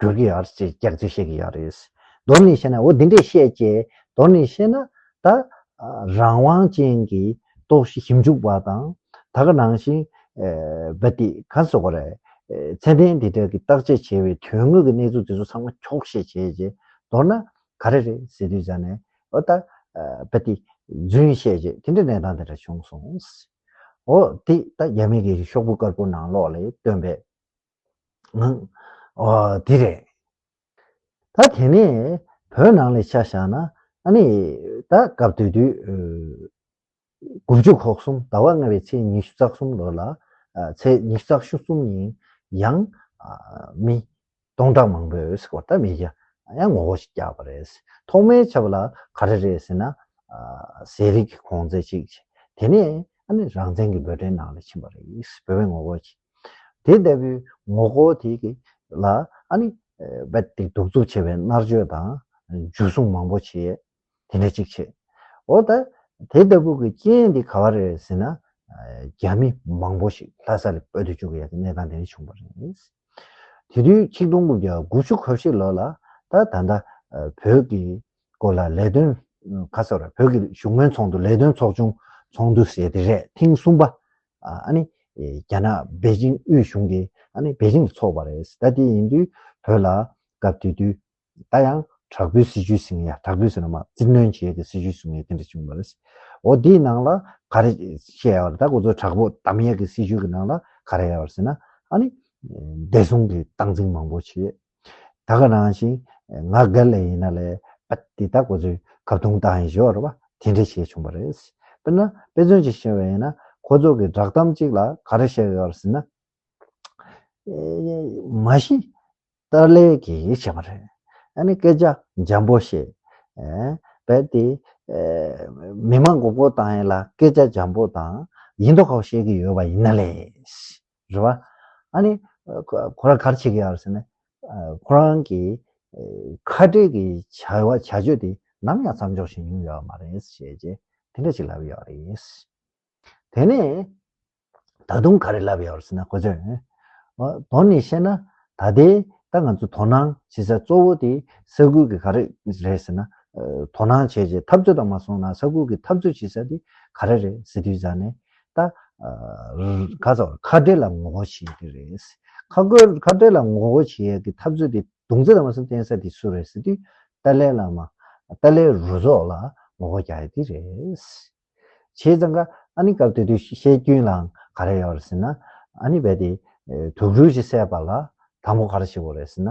འགྱུར་གྱི་ཡོད་ཅེས་སྐྱག་རྫུན་བཤད་ཀྱི་ཡོད་རེད། མདོར་ནས་བཤད་ན་འོ་འདི་འདྲས་བཤད་ཅེས་མདོར་ནས་བཤད་ན། ད། རང་དབང་ཅན་གྱི་རྟོག་གཞི་ཞིབ་འཇུག་པ་དང། ད་ག་ནང་བཞིན། བོད་དེ་ག་སོག་པ་རེད། ཚད་ལྡན་དེ་དག་གིས་བརྟག་དཔྱད་བྱས་པའི་དོན་དངོས་ཀྱི་གནས་ཚུལ་དེ་ཚོ་ཚང་མ་འཁྱོག་བཤད་བྱས་རྗེས་མདོར་ན། ག་རེ་རེད་ཟེར་དུས་ཅག་ནས་འོ་ད། བོད་དེ། རྫུན་བཤད་རྗེས་དེ་འདྲའི་གནས་སྟངས་དེ་འདྲ་བྱུང་སོང། འོ་དེ་ད་རྒྱ་མི་གེ་གི་ཤོག་བུ་དཀར་པོ་ནང་ལོགས་ལས་བཏོན་པའི། འདི་རེད། ད་དེ་ནས་བོད་ནང་ལས་ཆ་བཞག་ན་ཨ་ནི་ད་སྐབས་དུས་དུས་དགུ་བཅུ་གོ་གསུམ་ཟླ་བ་ལྔ་བའི་ཚེས་ཉི་ཤུ་རྩ་གསུམ་ལོར་ལ་ཚེས་ཉི་ཤུ་རྩ་ཤུ་གསུམ་ཉིན་ཡང་མི་སྟོང་ཕྲག་མང་པོས་གོ་ད་མི་བརྒྱ་ཡང་ངོ་བོ་ཞིག་བརྒྱག་པ་རེད། ཐོག་མའི་ཆབ་ལ་ག་རེ་རེད་ཟེར་ན་ཟས་རིགས་ཀྱི་གོང་ཚད་ཅིག་དེ་ནས་ཨ་ནི་རང་བཙན་གྱི་འབོད་སྒྲའི་ནང་ལ་ཕྱིན་པ་རེད་བོད་པའི་ངོ་བོ་ཞིག། དེ་ལྟ་བུའི་ངོ་སྐོར་དེ་གི་ལ་ཨ་ནི། རྦད་དེ་གདུག་རྩུབ་ཆེ་བའི་མནར་གཅོད་དང་འཇུ་བཟུང་མང་པོ་བྱས། དེ་འདྲ་གཅིག་བྱས། འོ་ད། དེ་ལྟ་བུ་གི་རྐྱེན་དེ་ག་བ་རེད་ཟེར་ན། རྒྱ་མི་མང་པོ་ཞིག་ལྷ་ས་ལ་སྤོས་ཏེ་བཅུག་གི་ཡ་གི་གནས་སྟངས་དེ་འདྲ་བྱུང་བ་རེད། དེ་དུས་ཆིག་སྟོང་དགུ་བརྒྱ་དགུ་བཅུ་གོ་བཞི་ལོ་ལ་ད་ད་ལྟ་བོད་ཀྱི་སྐོར་ལ་ལས་དོན་ཁ་སོ་ར་བོད་ཀྱི་བཞུགས་མོལ་ཚོགས་འདུ་ལས་དོན་ཚོགས་ཆུང་ཚོགས་འདུ་ཟེར་དེ་རེད་ཐེངས་གསུམ་པ་ཨ་ནི། རྒྱ་ནག་པེ་ཅིང་དབུས་གཞུང་དེ་ཨ་ནི་པེ་ཅིང་དུ་འཚོགས་པ་རེད། ད་དེ་ཡིན་དུས་བོད་ལ་སྐབས་དེ་དུས་ད་ཡང་དྲག་པོའི་སྲིད་བྱུས་ཟིན་ཡ་དྲག་པོའི་ཟེར་ན་མ་བཙིར་གནོན་བྱེད་དེ་སྲིད་བྱུས་བཟུང་ཡ་དེ་འདྲ་བྱུང་བ་རེད། འོ་དེའི་ནང་ལ་ག་རེ་བཤད་ཡ་བ་རེད་ད་གོ་ཚོད་དྲག་པོ་དམ་ཡེ་གི་སྲིད་བྱུས་ཀྱི་ནང་ལ་ག་རེ་ཡ་བ་རེད་ཟེར་ན་ཨ་ནི། བདེ་སྲུང་གི་སྟངས་འཛིན་མང་པོ་བྱེད། ད་ག་རང་བཞིན་ང་རྒ་ལས་ཡིན་ན་ལས་ཨ་དེ་དག་གོ་ཚོད་གབ་དུང་དང་ཡིན་ཞོར་ར་བ་དེ་འདྲ་བྱས་བྱུང་བ་རེད། དཔེར་ན་དཔེ་མཚོན་ཅིག་བཤད་པ་ཡིན་ན་ཁོ་ཚོ་གི་བསྒྲགས་གཏམ་གཅིག་ལ་ག་རེ་བཤད་ཡོད་ཟེར་ན། མ་གཞི་ཏཱ་ལའི་གིས་བྱས་པ་རེད། ཨ་ནི་སྐད་ཆ་འཇམ་པོ་བཤད། རྦད་དེ་མི་མང་གོ་གོ་དང་ཡིན་ལ་སྐད་ཆ་འཇམ་པོ་དང་ཡིན་མདོག་ཁ་བོ་བཤད་ཀི་ཡོད་པ་ཡིན་ན་ལས། རེད་བ། ཨ་ནི། ཁོ་རང་གར་ཆས་ཀྱི་ཡ་རེད་ཟེར་ནས། ཁོ་རང་གི། ཁ་བྲལ་གྱི་བྱ་བ་བྱ་སྤྱོད་དེ་ནམ་ཡང་མཚམས་འཇོག་བཞིན་ཡོང་ཡོད་མ་རེད་ཞེས་རྗེས་དེ་འདྲ་ཞིག་ལབ་ཡོད་རེད། དེ་ནས། ད་དུང་ག་རེ་ལབ་ཡོད་ཟེར་ན་ཁོ་ཚོས། དོན་ནི་བཤད་ན་ད་ལྟའི་ད་ང་ཚོས་དོ་སྣང་བྱེད་ས་གཙོ་བོ་དེ་ས་ཁུལ་གྱི་ག་རེ་རེད་ཟེར་ན། དོ་སྣང་བྱས་རྗེས་འཐབ་རྩོད་དང་མ་སོང་ན་ས་ཁུལ་གྱི་འཐབ་རྩོད་བྱེད་ས་དེ་ག་རེ་རེད་ཟེར་དུས་ཟ་ནས། ད། ག་ཚོད་ཁ་བྲལ་ལ་ངོ་རྒོལ་བྱེད་ཀྱི་རེད། ཁ་རྒོལ་ཁ་བྲལ་ལ་ངོ་རྒོལ་བྱེད་ཡ་གི་འཐབ་རྩོད་དེ་དུང་རྩེ་དང་མ་སུ་བསྟན་ས་དེ་སུ་རེད་ཟེར་དུས་ཏཱ་ལའི་བླ་མ། ཏཱ་ལའི་རུ་ཚོགས་ལ་ངོ་རྒོལ་རྒྱག་ཡ་དེ་རེད། བྱས་ཙང་ཀ་ཨ་ནི་སྐབས་དེ་དུས་བཤད་རྒྱུན་ལའང་ག་རེ་ཡོད་རེད་ཟེར་ན། ཨ་ནི་བས་དེ། དུག་སྦྲུལ་ཞིག་བསད་པ་ལ་དང་པོ་ག་རེ་བྱེད་དགོས་རེད་ཟེར་ན།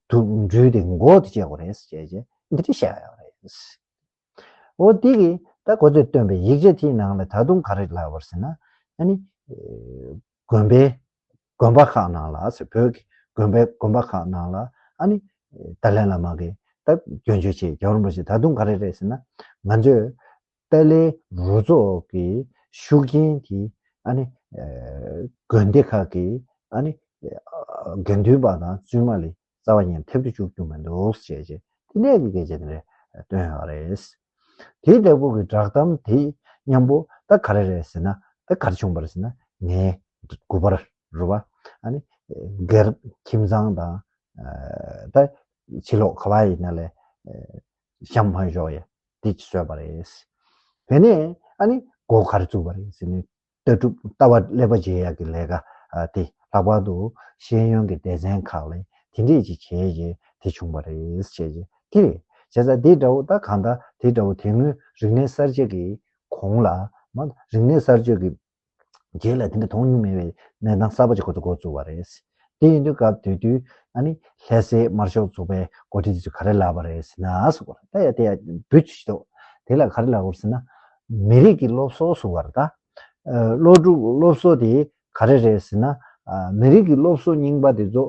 དུག་སྦྲུལ་དེ་མགོ་དེ་བཅད་དགོས་རེད་ཟེར་བྱས་རྗེས་འདི་འདྲ་བཤད་ཡ་ཡོད་རེད། འོ་དེ་གི་ད་གོ་ཚོད་སྟོན་པའི་ཡིག་ཆ་དེའི་ནང་ལ་ད་དུང་ག་རེ་ལབ་བར་ཟེར་ན། ཨ་ནི། དགོན་པའི་དགོན་པ་ཁག་ནང་ལ་ཟེར་བོད་ཀྱི་དགོན་པའི་དགོན་པ་ཁག་ནང་ལ་ཨ་ནི། ཏཱ་ལའི་བླ་མ་གིས་ད་སྐྱོན་བརྗོད་བྱས་རྒྱ་གར་བ་ཞིག་ད་དུང་ག་རེ་རེད་ཟེར་ན། ང་ཚོས་ཏཱ་ལའི་རུ་ཚོགས་ཀྱི་ཤུགས་རྐྱེན་དེ་ཨ་ནི། དགོན་སྡེ་ཁག་གི་ཨ་ནི། དགེ་འདུན་པ་དང་བཙུན་མ་ལས་རྩ་བ་ཉིད་ཐེབས་དུ་བཅུག་རྒྱུ་མི་འདུག་ཅེས་བཅས་ཐིག་ལེ་གི་སྐད་ཆ་དེ་རེད་བཏོན་ཡོད་རེད། དེའི་ལྟ་བུ་གི་བསྒྲགས་གཏམ་དེ་མཉམ་པོ་ད་ག་རེ་རེད་ཟེར་ན་ད་གར་བྱུང་བར་ཟེར་ན་ངའི་དགུ་པར་རུ་བ་ཨ་ནི་སྒེར་ཁྱིམ་ཚང་དང་ད་ཕྱི་ལོག་ག་བ་ཡིན་ན་ལས་ཤམ་བྷན་ཤོག་ཡ་དེ་བཟོས་པ་རེད། དེ་ནས་ཨ་ནི་སྒོ་གར་བཙུགས་པ་རེད་ཟེར་ནས་ལྟ་གྲུབ་ལྟ་བ་ཀླད་པ་བརྗེ་ཡག་གི་ལས་ཀ་དེ་ལྷག་པར་དུ་ཤེས་ཡོན་གྱི་སྡེ་ཚན་ཁག་ལས་དེ་འདྲས་ཅིག་བྱས་རྗེས་དེ་བྱུང་བ་རེད་བྱས་རྗེས་དེ་རེད་བྱས་ཙང་དེ་འདྲ་བོ་ད་གང་ལྟར་དེ་འདྲ་བོ་དེ་སྔོན་རིག་གནས་གསར་བརྗེ་གི་གོང་ལ་རིག་གནས་གསར་བཅོས་ཀྱི་རྗེས་ལ་དེ་འདྲ་དོན་སྙིང་མེད་པའི་གནས་སྟངས་གསར་པ་ཅིག་ཁོ་ཚོ་མགོ་བཙུགས་བ་རེད། དེ་ཡིན་དུས་སྐབས་དུས་དུས་ཨ་ནི་ལྷས་སའི་དམར་ཤོག་ཚོགས་པའི་འགོ་ཁྲིད་དེ་ཚོ་ག་རེ་ལབ་པ་རེད་ཟེར་ན་ཟེར་གོ་ད་ཡ་དེ་ཡ་འབུད་ཆུ་ཤིག་དེ་ལ་ག་རེ་ལབ་ཟེར་ན་མི་རིགས་ཀྱི་སློབ་གསོ་ཟུར་བ་རེད་ད། སློབ་ཕྲུག་སློབ་གསོ་དེ་ག་རེ་རེད་ཟེར་ན་མི་རིགས་ཀྱི་སློབ་གསོ་རྙིང་པ་དེ་ཚོ་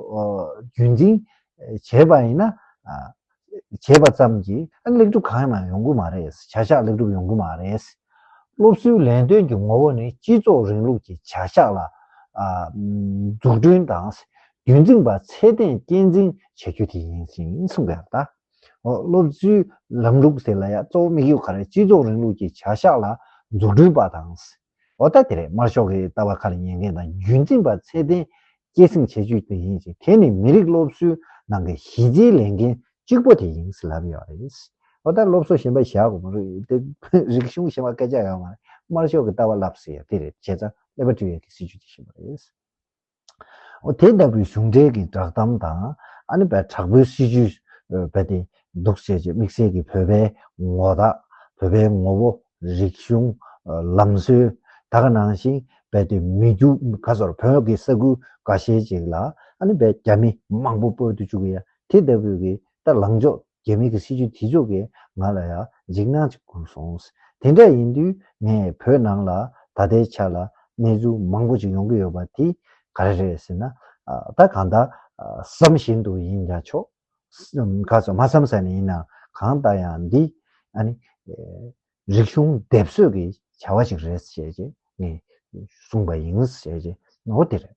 རྒྱུན་འཛིན་བྱེད་པ་ཡིན་ན་བྱས་པ་ཙམ་གྱིས་ལེགས་འགྲུབ་གང་ཡང་ཡོང་གི་མ་རེད། བྱ་གཞག་ལེགས་འགྲུབ་ཡོང་གི་མ་རེད། སློབ་གསོའི་ལས་དོན་གྱི་ངོ་བོ་ནི་སྤྱི་ཚོགས་རིང་ལུགས་ཀྱི་བྱ་གཞག་ལ། འཛུགས་སྐྲུན་དང་རྒྱུན་འཛིན་པ་ཚད་ལྡན་སྐྱེད་འཛིན་བྱེད་རྒྱུ་དེ་ཡིན་ཞེས་གསུངས་པ་ཡང་དག་འོ། སློབ་གསོའི་ལམ་ལུགས་དེ་ལ་ཡང་གཙོ་བོ་དམིགས་ཡུལ་ག་རེ་སྤྱི་ཚོགས་རིང་ལུགས་ཀྱི་བྱ་གཞག་ལ་འཛུགས་སྐྲུན་པ་དང། ཨོ་ད་དེ་རེད་དམར་ཤོག་གིས་ལྟ་བ་ཁ་ལ་ཉན་མཁན་དང་རྒྱུན་འཛིན་པ་ཚད་ལྡན་སྐྱེད་སྲིང་བྱེད་རྒྱུ་དེ་ཡིན་ཞིང་དེ་ནི་མི་རིགས་སློབ་གསོའི་ནང་གི་གཞི་རྩའི་ལས་འགན་གཅིག་པོ་དེ་ཡིན་ཟེར་ལབ་ཡོད་པ་རེད། ཨོ་ད་སློབ་གསོ་ཞེན་པ་བཞག་གོ་མ་རིག་དེ་རིག་གཞུང་ཞེན་པ་སྐད་ཆ་ཡོད་མ་རེད་དམར་ཤོག་གི་ལྟ་བ་ལབ་ཟེར་ཡོད་དེ་རེད་བྱས་ཙང་ཀླད་པ་བཀྲུས་ཡོད་ཀྱི་སྲིད་བྱུས་དེ་བཞིན་པ་རེད། དེ་ལྟ་བུའི་གཞུང་འགྲེལ་གྱི་བསྒྲགས་གཏམ་དང་ཨ་ནེ་པའི་དྲག་པོའི་སྲིད་ཇུས་རྦད་དེ་འདུག་བྱས་རྗེས་དམིགས་བསལ་གྱིས་བོད་པའི་ངོ་རྟགས། བོད་པའི་ངོ་བོ། རིག་གཞུང། ལམ་སྲོལ། དག་ནང་བཞིན་རྦད་དེ་མི་རྒྱུགས་ག་སོར་བོད་ཀྱི་ས་ཁུལ་འགའ་ཤས་ཅིག་ལ་ཨ་ནེ་པའི་རྒྱ་མི་མང་པོ་སྤོས་ཏུ་བཅུག་ཡ་དེ་ལྟ་བུའི་གི་ལྟ་ལངས་ཕྱོགས་རྒྱ་མི་གི་སྲིད་ཇུས་དེ་ཕྱོགས་ཀྱིས་ང་ལ་ཡང་འཇིགས་སྣང་ཅིག་བསྐུར་སོང། དེ་འདྲ་ཡིན་དུས་ངས་བོད་ནང་ལ་ད་ལྟའི་ཆ་ལ་གནས་ཚུལ་མང་པོ་ཅིག་ཡོང་གི་ཡོད་པ་དེ་ག་རེ་རེད་ཟེར་ན། ད་གང་ལྟར་བསམ་བཞིན་དུ་ཡིན་ཀྱང་ཆོག། ག་ཚོད་མ་བསམ་ས་ནས་ཡིན་ནའང་གང་ལྟར་ཡང་འདི་ཨ་ནི། རིག་གཞུང་སྡེབ་གསོད་ཀྱི་བྱ་བ་ཞིག་རེད་ཞེས་ངས་གསུངས་པ་ཡིན། འོ་དེ་རེད།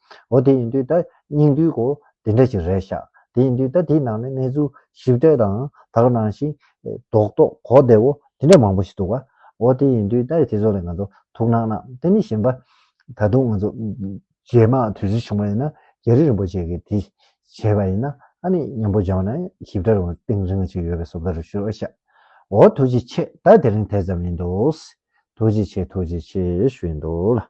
འོ་དེ་ཡིན་དུས་ད་སྙིང་དུས་གོ་དེ་འདྲ་ཞིག་རེད་ཤག་དེ་ཡིན་དུས་ད་དེའི་ནང་ནས་གནས་ཚུལ་ཞིབ་ལྟོས་དང་དག་ནང་བཞིན་རྡོག་རྡོག་གོ་བདེ་བོ་དེ་འདྲ་མང་པོ་ཞིག་འདུག་ག་འོ་དེ་ཡིན་དུས་ད་དེ་ཚོ་ལ་ང་ཚོ་ཐུགས་སྣང་གནང་དེ་ནས་གཞན་པ་ད་དུང་ང་ཚོ་རྗེས་མ་དུས་ཚོད་བྱུང་བ་ཡིན་ན་རྒྱ་རི་རིན་པོ་ཆེ་གིས་དེ་བྱས་པ་ཡིན་ན་ཨ་ནི་སྙན་པོ་སྦྱང་ན་ཞིབ་ཕྲ་རུང་ཏིང་རིང་ཞིག་ཡོད་པའི་བཟོ་བལྟ་རུ་ཞུ་རོགས་ཤག་འོ་ཐུགས་རྗེ་ཆེ་ད་དེ་རིང་དེ་ཙམ་ཡིན་འདུག་ཐུགས་རྗེ་ཆེ་ཐུགས་རྗེ་ཆེ་ཞུ་ཡི་འདུག་ལ།